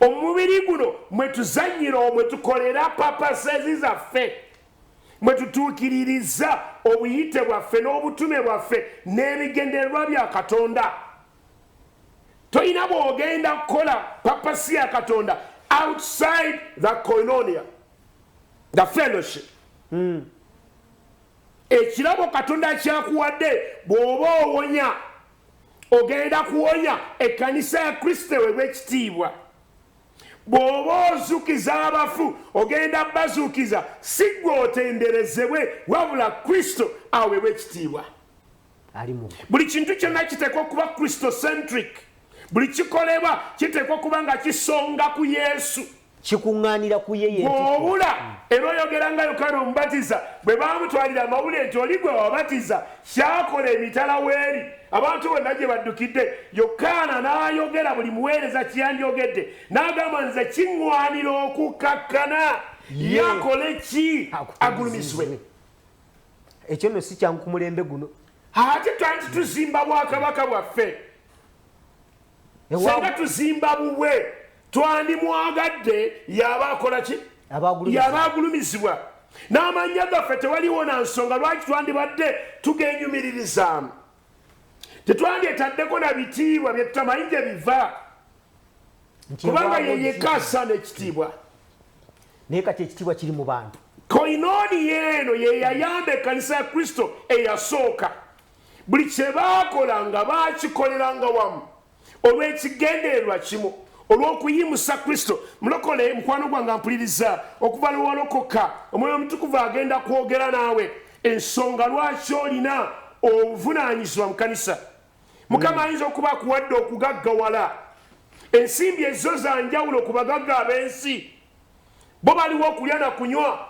omubiri guno mwetuzanyira omwe tukolera papasezi zaffe mwetutuukiririza obuyite bwaffe n'obutume bwaffe n'ebigendererwa bya katonda tolina bwogenda kukola papasi ya katonda outside the coinonia the fellowship hmm. ekirabo katonda kyakuwadde bw'oba owonya Ogenda kuwonya ekkanisa ya Kristo ewebwa ekitiibwa. Bw'oba ozukiza abafu, ogenda bazukiza, si gwe otenderezebwe, wabula Kristo awebwa ekitiibwa. Buli kintu kyonna kiteekwa okuba Kristo centric. Buli kikolebwa kiteekwa okuba nga kisonga ku Yesu. kikuŋŋaanira ku ye yeobula era oyogera nga yokaana omubatiza bwe baamutwalira amawulire nti oli gwe wabatiza kyakola emitala weeri abantu bonna gye baddukidde yokaana n'ayogera buli muweereza kiyandyogedde n'agamba nze kiŋŋwanira okukkakkana yakole ki agulumisibwe ekyo nno si kyangu ku mulembe guno ate twandi tuzimba bwakabaka bwaffe senga tuzimba bubwe twandimwagadde yaba akola ki yaba agulumizibwa n'amannya gaffe tewaliwo na nsonga lwaki twandibadde tugenyumiririzaamu tetwandyetaddeko na bitiibwa bye tutamanyi gye biva kubanga yeyeka asaana ekitiibwa naye kati ekitiibwa kiri mu bantu koinooni yeeno ye yayamba ekkanisa ya kristo eyasooka Buli kye baakolanga baakikoleranga wamu olw'ekigendererwa kimu, olw'okuyimusa Kristo. Mulokole, mukwano gwange ampuliriza, okuva lwe walokoka, Omwoyo Omutukuvu agenda kwogera naawe ensonga lwaki olina obuvunaanyizibwa mu kanisa. Mukama mm. ayinza okuba akuwadde okugaggawala. Ensimbi ezzo za njawulo ku bagagga ab'ensi, bo baliwo okulya na kunywa.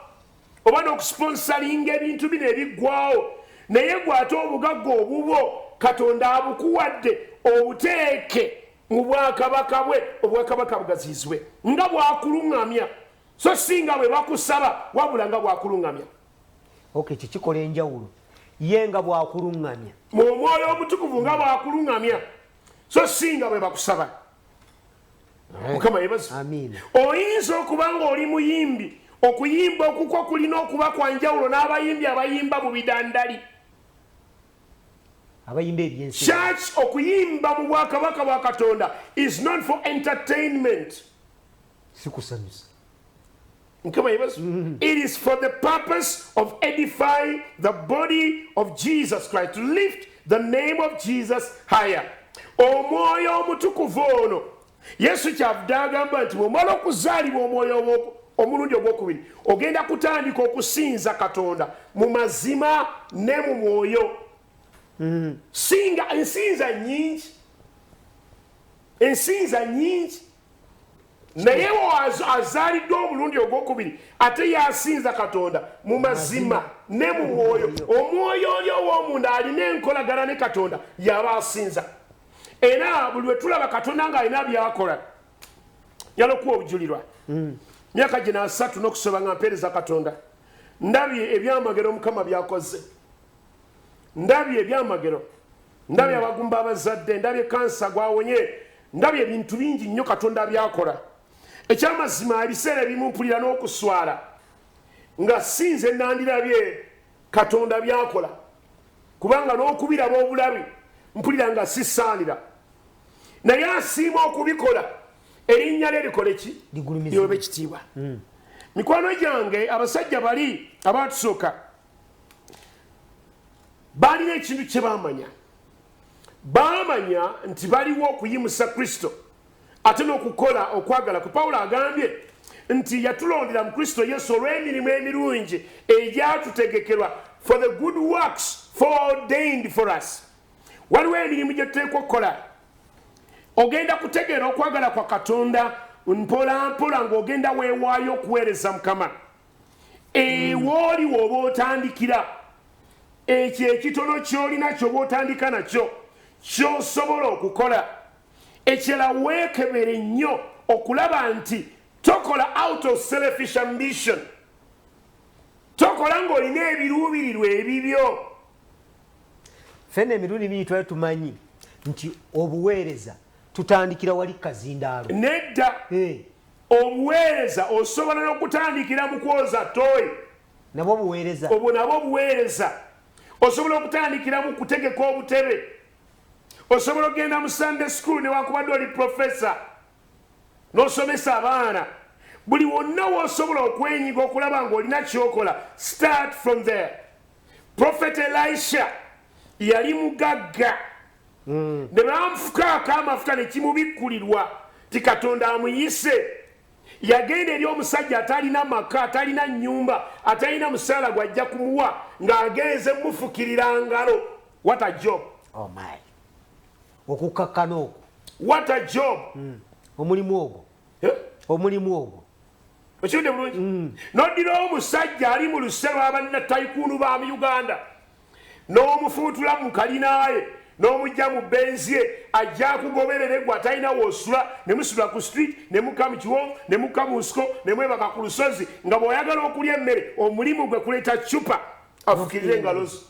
oba n'okusiponsalinga ebintu bino ebiggwawo naye gwe ate obugagga obubwo katonda abukuwadde obuteeke mu bwakabaka bwe obwakabaka bugaziyizibwe nga bwakuluŋŋamya so singa bwe bakusaba wabula nga bwakuluŋŋamya ok ekyo kikola enjawulo ye nga bwakuluŋŋamya mu omwoyo omutukuvu nga bwakuluŋŋamya so singa bwe bakusaba mukama yebazi oyinza okuba ngaoli muyimbi okuyimba okukwo kulina okuba kwanjawulo n'abayimbi abayimba mu bidandali abayimba ebyensi church okuyimba mu bwakabaka bwa katonda is not for entertainment sikusanyusa mukama yebazi mm-hmm. it is for the purpose of edifying the body of jesus christ to lift the name of jesus higher omwoyo omutukuvu ono yesu kyavudde agamba nti bwomala okuzaalibwa omwoyo omulundi ogwokubiri ogenda kutandika okusinza katonda mu mazima ne mu mwoyo mm-hmm. singa ensinza nyingi ensinza nyingi naye azaalidde omulundi ogwokubiri ate yasinza katonda mu mazima ne mu mwoyo omwoyo oli ow'omunda alina enkolagana ne katonda yaba asinza era buli lwe tulaba katonda ng'alina byakola yala okuwa obujulirwa mm. myaka gino asatu n'okusoba nga mpeereza katonda ndabye ebyamagero omukama byakoze ndabye ebyamagero ndabye abagumba abazadde ndabye kansa gwawonye ndabye ebintu bingi nnyo katonda byakola ekyamazima ebiseera ebimumpulira n'okuswala nga sinze nandirabye katonda byakola kubanga n'okubiraba obulabi mpulira nga sisaanira naye asiima okubikola erinnya lye likole ki lyobe kitiibwa hmm. mikwano gyange abasajja bali abaatusooka baalina ekintu kye baamanya baamanya nti baliwo okuyimusa kristo ate n'okukola okwagala kwe pawulo agambye nti yatulondera mu kristo yesu olw'emirimu emirungi egyatutegekerwa for the good works fordained for us waliwo emirimu gye tuteekwa okukola ogenda kutegeera okwagala kwa katonda mpolampola ng'ogenda weewaayo okuweereza mukama ewooli eh, woba otandikira ekyo ekitono kyolina kyoba otandika nakyo kyosobola okukola ekyala wekebere nnyo okulaba nti tokola out of selfish ambition tokola ngaolina ebiruubirirwa ebibyo fena emirundi mingi twali tumanyi nti obuweereza tutandikira wali kazindaalo nedda eh. Obuweereza osobola n'okutandikira mu kwoza ttooyi. Nabwo buweereza. Obwo nabwo buweereza. Osobola okutandikira mu kutegeka obutebe. Osobola okugenda mu Sunday school newankubadde oli profesa n'osomesa abaana. Buli wonna w'osobola okwenyiga okulaba ng'olina ky'okola, start from there. Prophet Elisha yali mugagga mm. ne bamufukaako amafuta ne kimubikkulirwa ti Katonda amuyise yagenda eri omusajja atalina maka atalina nnyumba atalina musaala gwajja kumuwa ng'agenze mufukirira ngalo what a job oh my okukkakkana okwo what a job mm. omulimu ogwo eh? omulimu ogwo okirudde bulungi mm. noddirawo omusajja ali mu luse lwa banna taikuunu ba mu uganda n'omufuutula mu kalinaaye n'omujja mu benzi ye ajja kugoberere gwe atalina woosula ne musula ku street ne muka mu kiwonvu ne muka mu nsiko ne mwebaka ku lusozi nga bw'oyagala okulya emmere omulimu gwe kuleeta cupa afukirire engalo zo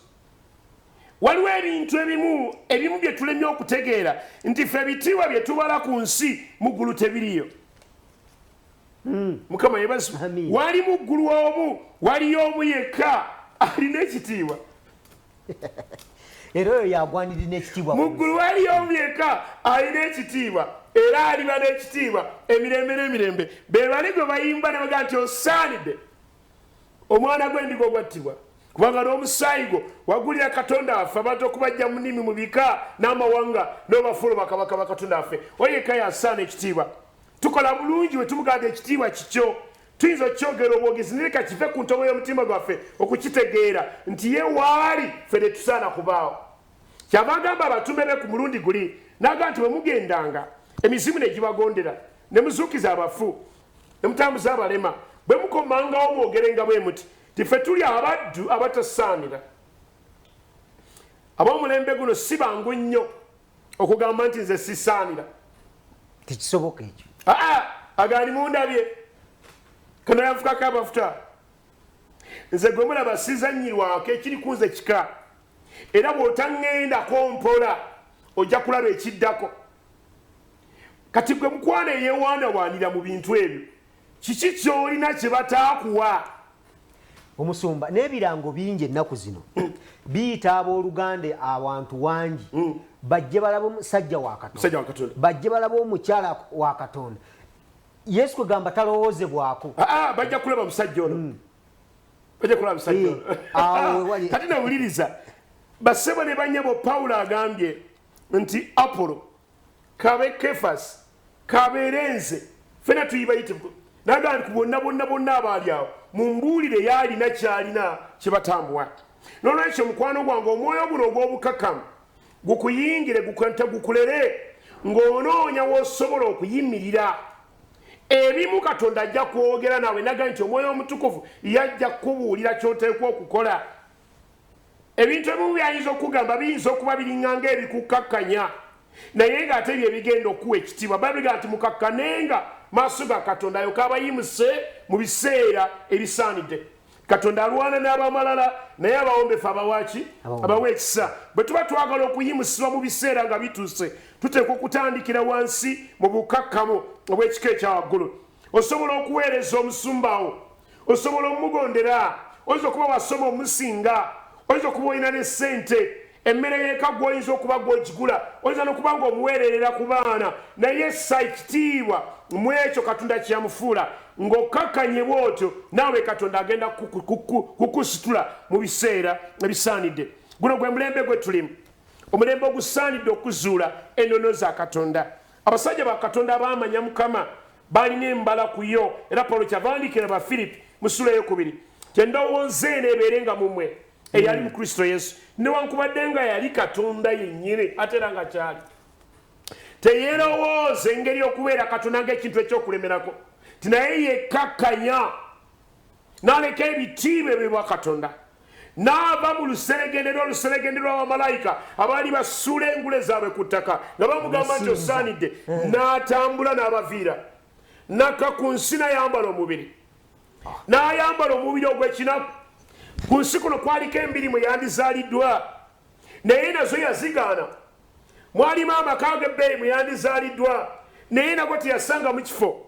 waliwo ebintu ebimu ebimu bye tulemye okutegeera nti fe ebitiibwa bye tubala ku nsi mu ggulu tebiriyo hmm. mukama yebazi wali muggulu omu waliyo omu yekka alina ekitiibwa era oyo yagwaniri n'ekitiibwa muggulu waliyo omu yekka alina ekitiibwa era aliba n'ekitiibwa emirembe n'emirembe bebali gwe bayimba nebaga nti osaanidde omwana gwendiga ogwattibwa kubanga n'omusaayi gwo wagulira katonda waffe abantu okubajja mu nnimi mu bika n'amawanga n'obafuula bakabaka bakatonda waffe oyeka yasaana ekitiibwa tukola bulungi bwe tumuganda ekitiibwa kikyo tuyinza okukyogera obwogezi naye kakive ku ntobo y'omutima gwaffe okukitegeera nti ye waali ffe ne tusaana kubaawo kyava agamba abatume be ku mulundi guli naga nti bwe mugendanga emizimu ne gibagondera ne muzuukiza abafu ne mutambuza abalema bwe mukomangawo mwogerenga bwe muti ti ffe tuli abaddu abatasaanira ab'omulembe guno si bangu nnyo okugamba nti nze sisaanira tekisoboka ekyo aa agaali mundabye kanayanfukako amafuta nze gwe mulaba sizanyirwako ekiri kunze kika era bwotaŋŋendako mpola ojja kulaba ekiddako kati gwe mukwano eyewaanawaanira mu bintu ebyo kiki kyolina kyebataakuwa omusumba n'ebirango bingi ennaku zino hmm. biyita abooluganda awantu wangi hmm. bajje balaba omusajja wa katonda bajje balaba omukyala wa katonda yesu kwegamba talowoozebwako ah, ah, bajja kulaba omusajja ono hmm. bajja kulaba omusajja eh, ono ah, kati nawuliriza basebo ne banyabo pawulo agambye nti apolo kabe kefas kabeere nze fena tuyibayite nagamba nti bonna bonna bonna abaali awo mumbuulire yaalina kyalina kyebatambuwa nolwekyo mukwano gwange omwoyo guno ogw'obukakamu gukuyingire gukanta gukulere ng'onoonya wosobola okuyimirira ebimu katonda ajja kwogera nawe naga nti omwoyo omutukuvu yajja kukubuulira kyoteekwa okukola ebintu ebimu byayinza okugamba biyinza okuba biringanga ebikukkakkanya naye ng'ate bye bigenda okuwa ekitiibwa babiga nti mukakkanenga maaso ga katonda ayo kabayimuse mu biseera ebisaanidde katonda alwana n'abamalala naye abawombefu abawaki abawa ekisa bwe tuba twagala okuyimusibwa mu biseera nga bituuse tuteekwa okutandikira wansi mu bukakkamu obw'ekika ekya waggulu osobola okuweereza omusumbawo osobola omugondera oyinza okuba wasoma omusinga oyinza okuba olina ne ssente emmere yeka gwoyinza okuba gwogigula oyinza nokuba nga omuweererera ku baana naye ssa ekitiibwa mu ekyo katonda kyeyamufuula ng'okakkanye bwotyo naawe katonda agenda kukusitula mu biseera ebisaanidde guno gwe mulembe gwe tulimu omulembe ogusaanidde okuzuula enono za katonda abasajja ba katonda abaamanya mukama Baalina embala ku yo, era Pawulo kyava awandiikira Abafiripi mu ssuula ey'okubiri nti endowooza eno ebeere nga mu mwe eyali mu Kristo Yesu, newankubadde nga yali Katonda yennyini ate era nga kyali teyeerowooza engeri okubeera Katonda ng'ekintu eky'okulemerako nti naye yekkakkanya n'aleka ebitiibwa ebyo bwa katonda n'ava mu luseregende n'oluseregende lwa bamalayika abaali basuula engule zaabwe ku ttaka nga bamugamba nti osaanidde eh. n'atambula n'abaviira nakka ku nsi nayambala omubiri ah. n'ayambala omubiri ogw'ekinaku ku nsi kuno kwaliko embiri mwe yandizaaliddwa naye nazo yazigaana mwalimu amaka agebbeeyi mweyandizaaliddwa naye nago teyasanga mu kifo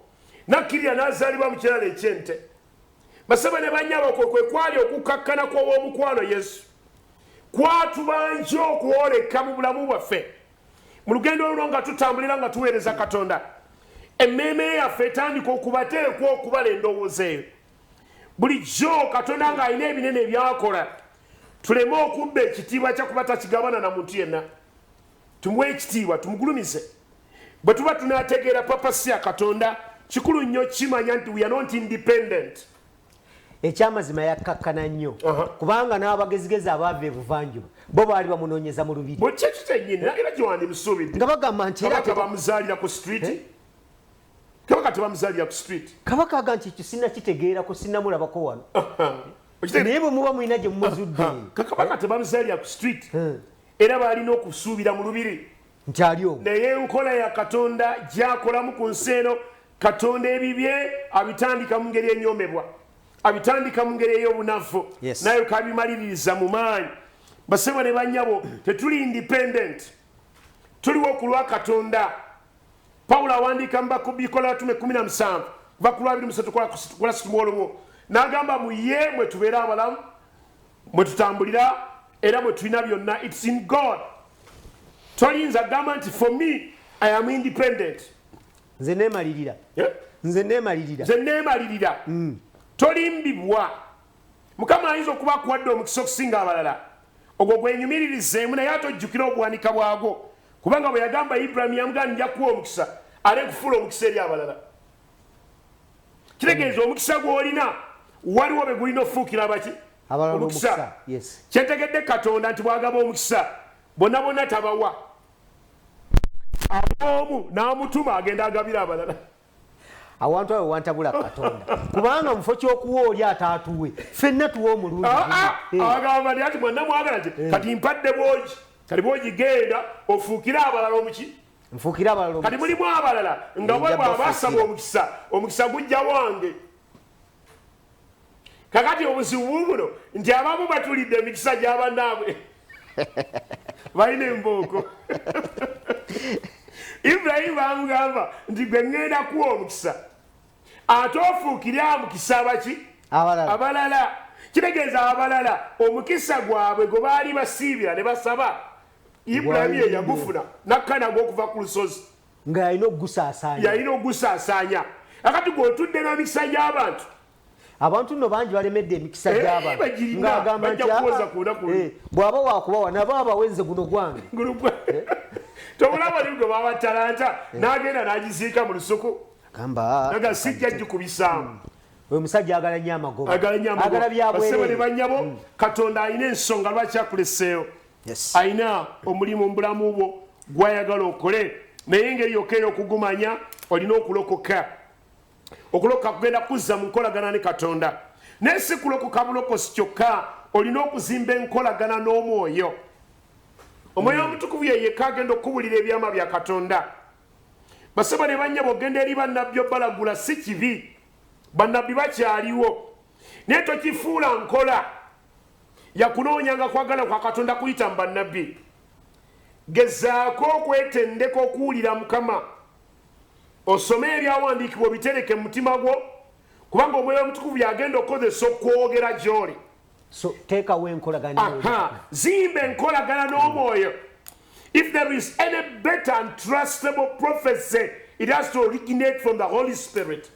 nakkirira n'azaalibwa mu kirala ekyente basaba ne banyabo kwe kwe kwali okukkakkana kw'ow'omukwano yesu kwatubanja okwoleka mu bulamu bwaffe mu lugendo oluno nga tutambulira nga tuweereza katonda emmeeme yaffe etandika okubateekwa okubala endowooza eyo bulijjo katonda ng'alina ebinene ebyakola tuleme okubba ekitiibwa kyakuba takigabana na muntu yenna tumuwe ekitiibwa tumugulumize bwe tuba tunategeera papa siya katonda kikulu nnyo kimanya nti weare not independent ekyamazima yakkakkana nnyo kubanga n'abagezigezi abaava ebuvanjuba bo baali bamunoonyeza mu lubiri nga bagamba nti bamuzaalira ku street eh? kabaka tebamuzaalira ku street kabaka aga nti ekyo sinakitegeerako sinamulabako wano naye bwe muba mulina gye mumuzudde kakabaka tebamuzaalira ku street hmm. era baalina okusuubira mu lubiri nti ali omu naye enkola ya katonda gyakolamu ku nsi eno katonda ebibye abitandika mu ngeri enyomebwa abitandika mu ngeri ey'obunafu naye kabimaliririza mu maanyi basebo ne banyabo tetuli independent tuliwo ku lwa katonda pawulo awandiika mubakubikola yatume 17 kuva ku lwabiri musatu kola situmwolobwo n'agamba mu ye mwe tubeera abalamu mwe tutambulira era mwe tulina byonna its in god toyinza gamba nti for me i am independent nze nemalirira nze nemalirira nze nemalirira mm. tolimbibwa Mukama ayinza okuba akuwadde omukisa okusinga abalala. Ogwo gwenyumiririzeemu naye ate ojjukire obuwanika bwagwo kubanga bwe yagamba Ibulayimu yamugamba nja kuwa omukisa ate nkufuula omukisa eri abalala. Kitegeeza omukisa gw'olina waliwo be gulina okufuukira abaki omukisa. Kyetegedde Katonda nti bwagaba omukisa bona bona tabawa aboomu n'amutuma agenda agabira abalala. awantu awo wantabula katonda kubanga mufo kyokuwa oli ataatuwe fenna tuwa omulungiagamba ah, ah, ti mwana mwagala ti eh. kati mpadde bwogi kati bwogi genda ofuukire abalala omuki nfuukire abalala kati mulimu abalala nga bwe bwabasaba omukisa omukisa gujja wange kakati obuzibu bubuno nti abamu batulidde emikisa gyabanaabwe balina embooko ibrahimu bamugamba nti gwe ŋŋenda kuwa omukisa ate ofuukire amukisa abaki abalala kitegeeza abalala omukisa gwabwe gwe baali basiibira ne basaba ibrahimu ye yagufuna nakkanagwa okuva ku lusozi nga yalina okugusaasaanya yalina okugusaasaanya akati gwotudde n'emikisa gy'abantu abantu nno bangi balemedde emikisa eh, gy'abantu ng'agamba nti ah, ah, eh, bw'aba waakubawa nabo abawenze guno gwange eh? tobulaba ni gwe baba talanta n'agenda n'agiziika mu lusuku gamba sijja gikubisaamu hmm. oyo musajja agala nyo amagobaagala byabwerere banyabo hmm. katonda alina ensonga lwaki akuleseewo alina omulimu mubulamu bwo gwayagala okole naye engeri yokka eyokugumanya olina okulokoka okulokoka kugenda kuzza mu nkolagana ne katonda naye si kulokoka bulokosi kyokka olina okuzimba enkolagana n'omwoyo omwoyo hmm. omutukuvu yeyeka agenda okukubulira ebyama bya katonda basaba ne banyabo ogenda eri bannabbi obalagula si kibi bannabbi bakyaliwo naye tokifuula nkola yakunoonyanga kwagala kwa katonda kuyita mu bannabbi gezaako okwetendeka okuwulira mukama osome ebyawandiikibwa obitereke mu mutima gwo kubanga omwoyo omutukuvu yagenda okukozesa okwogera gyoli zimba enkolagana n'omwoyo if there is any better and trustable prophecy it has to originate from the holy spirit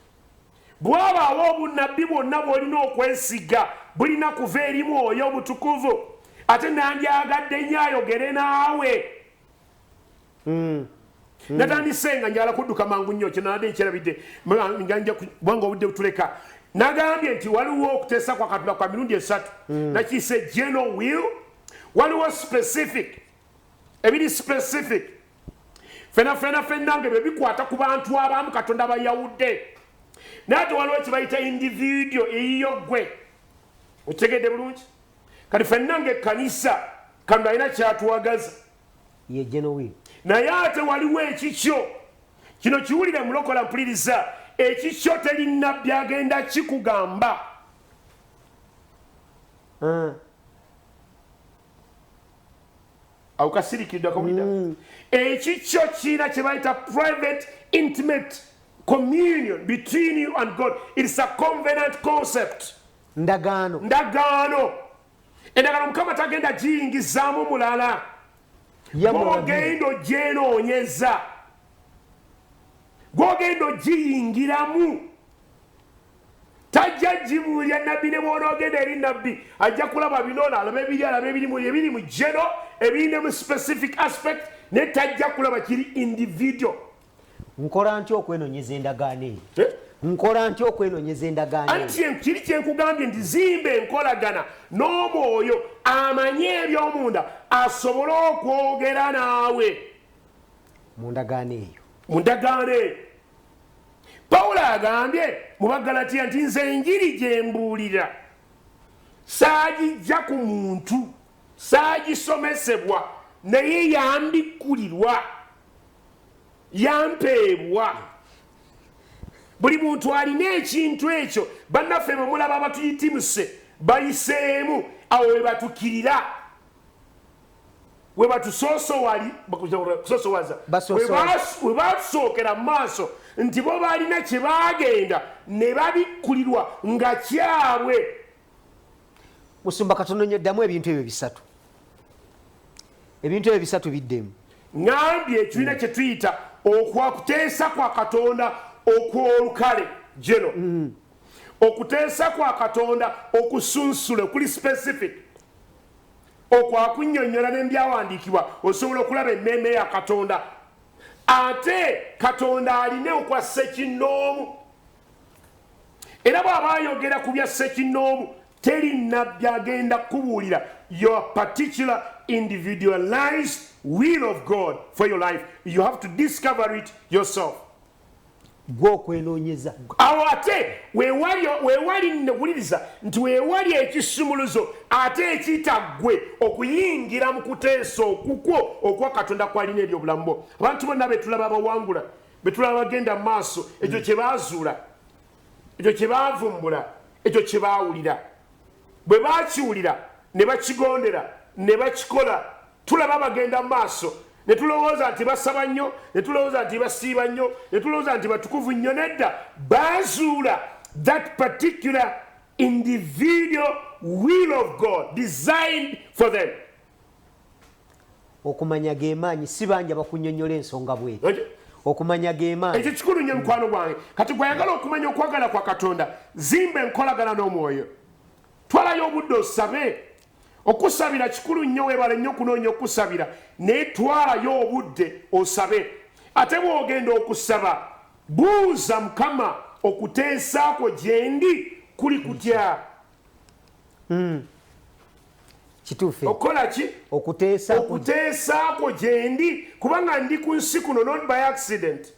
Bwewabaawo obunnabbi bwonna bw'olina okwesiga, bulina kuva eri Mwoyo Omutukuvu. Ate nandyagadde nnyo ayogere naawe. Hmm. Hmm. Natandise nga njala kudduka mangu nnyo, kye nabadde nkyerabidde, kubanga obudde butuleka. Nagambye nti waliwo okuteesa kwa Katonda kwa mirundi esatu. Hmm. Nakiise general will, waliwo specific, ebiri specific, fena fena fena nge bebikwata ku bantu abamu katonda bayawudde naye te waliwo kibayita individio eyiyo gwe okitegedde bulungi kati fenna nga ekkanisa kano alina kyatwagaza yejenowi naye ate waliwo ekikyo kino kiwulire mulokola mpuliriza ekikyo telinna byagenda kikugamba uh. awo kasirikidde akawulira mm. ekikyo kiina kye bayita private intimate communion between you and god its a convenant concept ndagaano ndagaano endagaano mukama tagenda giyingizaamu mulala gwogenda ogyenoonyeza gwogenda ogiyingiramu tajja gibuulira nabbi ne bwonoogenda eri nabbi ajja kulaba binoono alaba ebiri alaba ebirimu ebiri mu geno ebirine mu specific aspect naye tajja kulaba kiri individual nkola ntya okwenonyeza endagaano eyo eh? nkola ntya okwenonyeza endagaano anti kiri kyenkugambye nti zimba enkolagana n'omwoyo amanye ebyomunda asobole okwogera naawe mu ndagaano eyo mu ndagaano eyo pawulo agambye mu bagalatiya nti nze enjiri gye mbuulira saagijja ku muntu saagisomesebwa naye yambikkulirwa yampeebwa buli muntu alina ekintu ekyo bannaffe bemulaba abatuyitimuse bayiseemu awo webatukirira webatusookera mu maaso nti bo balina kye baagenda ne babikkulirwa nga kyabwe musumba katono nyo ddamu ebintu ebyo bisatu ebintu ebyo bisatu biddemu ngambye ekirina kye tuyita okwakuteesa kwa katonda okwolukale geno mm. okuteesa kwa katonda okusunsule okuli specific okwakunyonyola nebyawandiikibwa osobola okulaba emmeeme ya katonda ate katonda aline okwa sekinoomu era bwaba ayogera ku bya sekinoomu teri nabbi agenda kukubuulira your particular individualized will of god for your life you have to discover it yourself gwe okwenoonyeza awo ate wewali newuliriza nti wewali ekisumuluzo ate ekitaggwe okuyingira mu kuteesa okukwo okwa katonda kwalina eri obulamu bwo abantu bonna betulaba abawangula betulaba bagenda mu maaso ekyo kyebazuula ekyo kyebavumbula ekyo kyebawulira bwe bakiwulira ne bakigondera ne bakikola tulaba bagenda mu maaso ne tulowooza nti basaba nnyo ne tulowooza nti basiiba nnyo ne tulowooza nti batukuvu nnyo nedda baazuula that particular individual will of god designed for them okumanya gemaanyi si banja bakunyonyola ensonga bwe okumanya gemaanyi ekyo kikulu nnyo mukwano gwange kati gwayagala okumanya okwagala kwa katonda zimba enkolagana n'omwoyo twalayo obudde osabe Okusabira kikulu nnyo, weebale nnyo okunoonya okukusabira, naye twalayo obudde osabe. Ate bw'ogenda okusaba, buuza Mukama, Okuteesa kwo gye ndi kuli kutya? Hmm. Kituufu. Okukola ki? Okuteesa kwo gye ndi, kubanga ndi ku nsi kuno, not by accident.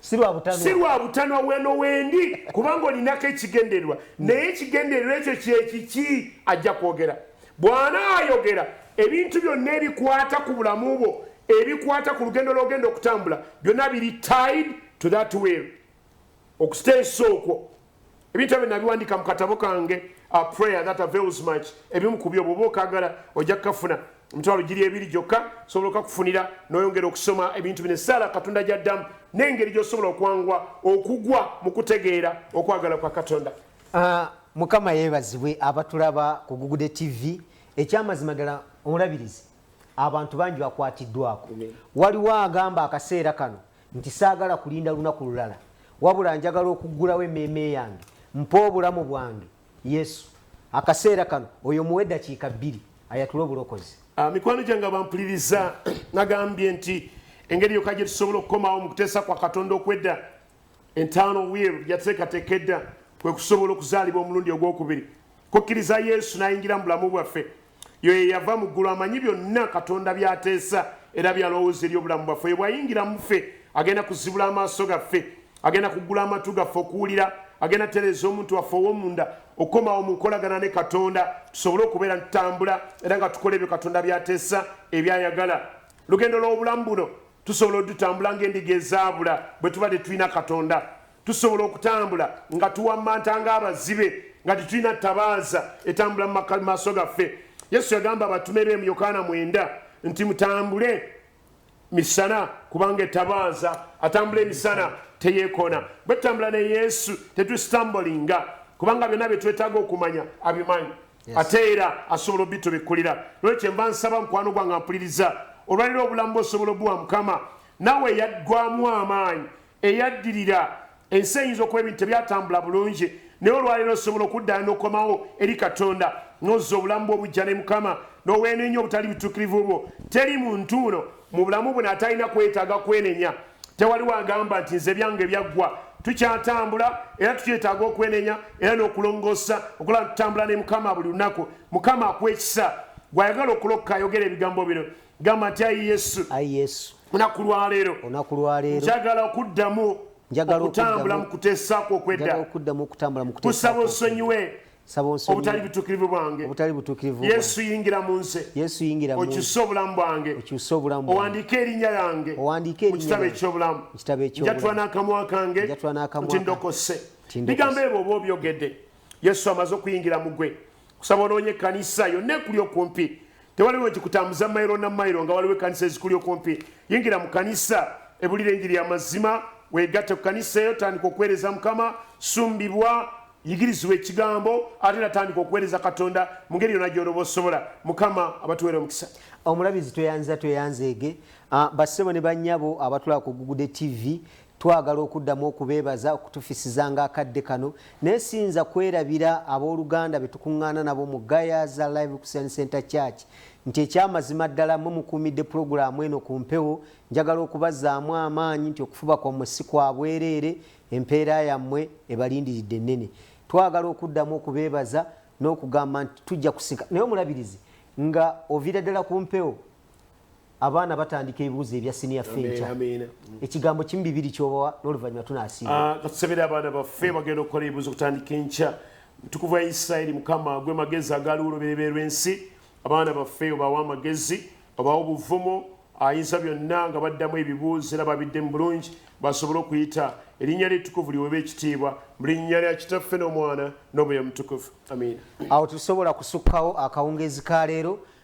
si lwa butanwa weno wendi kubanga olinako ekigendererwa naye ekigendererwa ekyo kyekiki ajja kwogera bwana ayogera ebintu byonna ebikwata ku bulamu bwo ebikwata ku lugendo lwogenda okutambula byonna biri tied to that will okusteesa okwo ebintu ebyo nabiwandiika mu katabo kange a prayer that avails much ebimu ku byo bwoba okagala ojja kukafuna emitwalo giri ebiri gyokka osobola okakufunira noyongera okusoma ebintu bino esaala katonda gyaddamu n'engeri gyosobola okwangwa okugwa mu kutegeera okwagala kwa katonda ah, mukama yebazibwe abatulaba ku gugude tv ekyamazima ddala omulabirizi abantu bangi bakwatiddwako waliwo agamba akaseera kano nti saagala kulinda lunaku lulala wabula njagala okuggulawo emmeeme yange mpa obulamu bwange yesu akaseera kano oyo muwe dakiika bbiri ayatule obulokozi ah, mikwano gyange abampuliriza nagambye nti engeri yoka gye tusobola okukomawo mu kuteesa kwa katonda okwedda entaano wiiru yateekateeka edda kwe kusobola okuzaalibwa omulundi ogwokubiri kukkiriza yesu n'ayingira mu bulamu bwaffe Yoyo eyava mu ggulu amanyi byonna Katonda by'ateesa era by'alowooza eri obulamu bwaffe. Oyo bw'ayingira mu ffe, agenda kuzibula amaaso gaffe, agenda kuggula amatu gaffe okuwulira, agenda tereeza omuntu waffe ow'omunda okukomawo mu nkolagana ne Katonda tusobole okubeera ntutambula era nga tukola ebyo Katonda by'ateesa ebyayagala. Olugendo lw'obulamu buno tusobola odutambula ng'endiga ezaabula bwe tuba tetulina Katonda. Tusobola okutambula nga tuwammanta ng'abazibe nga tetulina ttabaaza etambula mu maaso gaffe. Yesu yagamba abatume be mu Yokaana mwenda nti mutambule misana kubanga ettabaaza atambula emisana teyeekoona. Bwe tutambula ne Yesu tetusitambolinga kubanga byonna bye twetaaga okumanya abimanyi ate era asobola obitubikkulira. Nolwekyo mba nsaba mukwano gwange ampuliriza olwaliro obulamu bwosobola obuwa Mukama nawe yaggwamu amaanyi eyaddirira, ensi eyinza okuba ebintu tebyatambula bulungi, naye olwaleero osobola okuddayo n'okomawo eri Katonda n'ozza obulamu bwo obuggya ne Mukama n'oweenenya obutali butuukirivu bwo. Teri muntu uno mu bulamu buno atalina kwetaaga kwenenya. Tewaliwo agamba nti nze ebyange byaggwa. Tukyatambula era tukyetaaga okwenenya era n'okulongoosa okulaba nti tutambula ne Mukama buli lunaku. Mukama akuwe ekisa. Gwe ayagala okulokoka ayogera ebigambo bino, gamba nti ayi yesu ayi yesu olunaku lwaleero olunaku lwaleero njagala okuddamu njagala okutambula mu kuteesa kwo okwedda okuddamu okutambula mu kuteesa kusaba osonyiwe obutali butukirivu bwange obutali butukirivu yesu yingira mu nze yesu yingira mu okyuse obulamu bwange okyuse obulamu bwange owandiike erinnya lyange owandiike erinnya kitabo eky'obulamu kitabo eky'obulamu njatula n'akamwa kange njatula n'akamwa nti ndokose bigambo ebyo oba obyogedde yesu amaze okuyingira mu gwe kusaba onoonye ekkanisa yonna ekuli okumpi Tewali lwe kikutambuza mayiro na mayiro nga waliwo ekkanisa ezikuli okumpi. Yingira mu kanisa, ebulira enjiri y'amazima, weegatte ku kanisa eyo, tandika okuweereza Mukama, sumbibwa, yigirizibwa ekigambo, ate era tandika okuweereza Katonda mu ngeri yonna gy'olaba osobola. Mukama abatuweere omukisa. Omulabizi tweyanza tweyanzeege. Ah, bassebo ne bannyabo abatulaba ku Gugude TV, Twagala okuddamu okubeebaza okutufisizanga akadde kano naye siyinza kwerabira ab'oluganda be tukuŋŋaana nabo mu Gayaza Live Christian Center Church nti eky'amazima ddala mmwe mukuumidde pulogulaamu eno ku mpewo. Njagala okubazzaamu amaanyi nti okufuba kwammwe si kwa bwereere, empeera yammwe ebalindiridde nnene. Twagala okuddamu okubeebaza n'okugamba nti tujja kusika. Naye Omulabirizi, nga oviira ddala ku mpewo, abaana batandika ebibuuzo ebya siniya ffe enkya ekigambo kimu bibiri kyobawa n'oluvannyuma tunasiibatusabire ah, abaana baffe bagenda okukola ebibuuzo okutandika enkya mutukuvu wa isirairi mukama gwe magezi agaaliwo olubereberye lw'ensi abaana baffe obawa amagezi obawa obuvumu ayinza byonna nga baddamu ebibuuzo era babidde mu bulungi basobole okuyita erinnya ly'ettukuvu liweebwa ekitiibwa mu linnya lya kitaffe n'omwana n'omwoyo mutukuvu amiina awo tusobola kusukkawo akawungeezi ka leero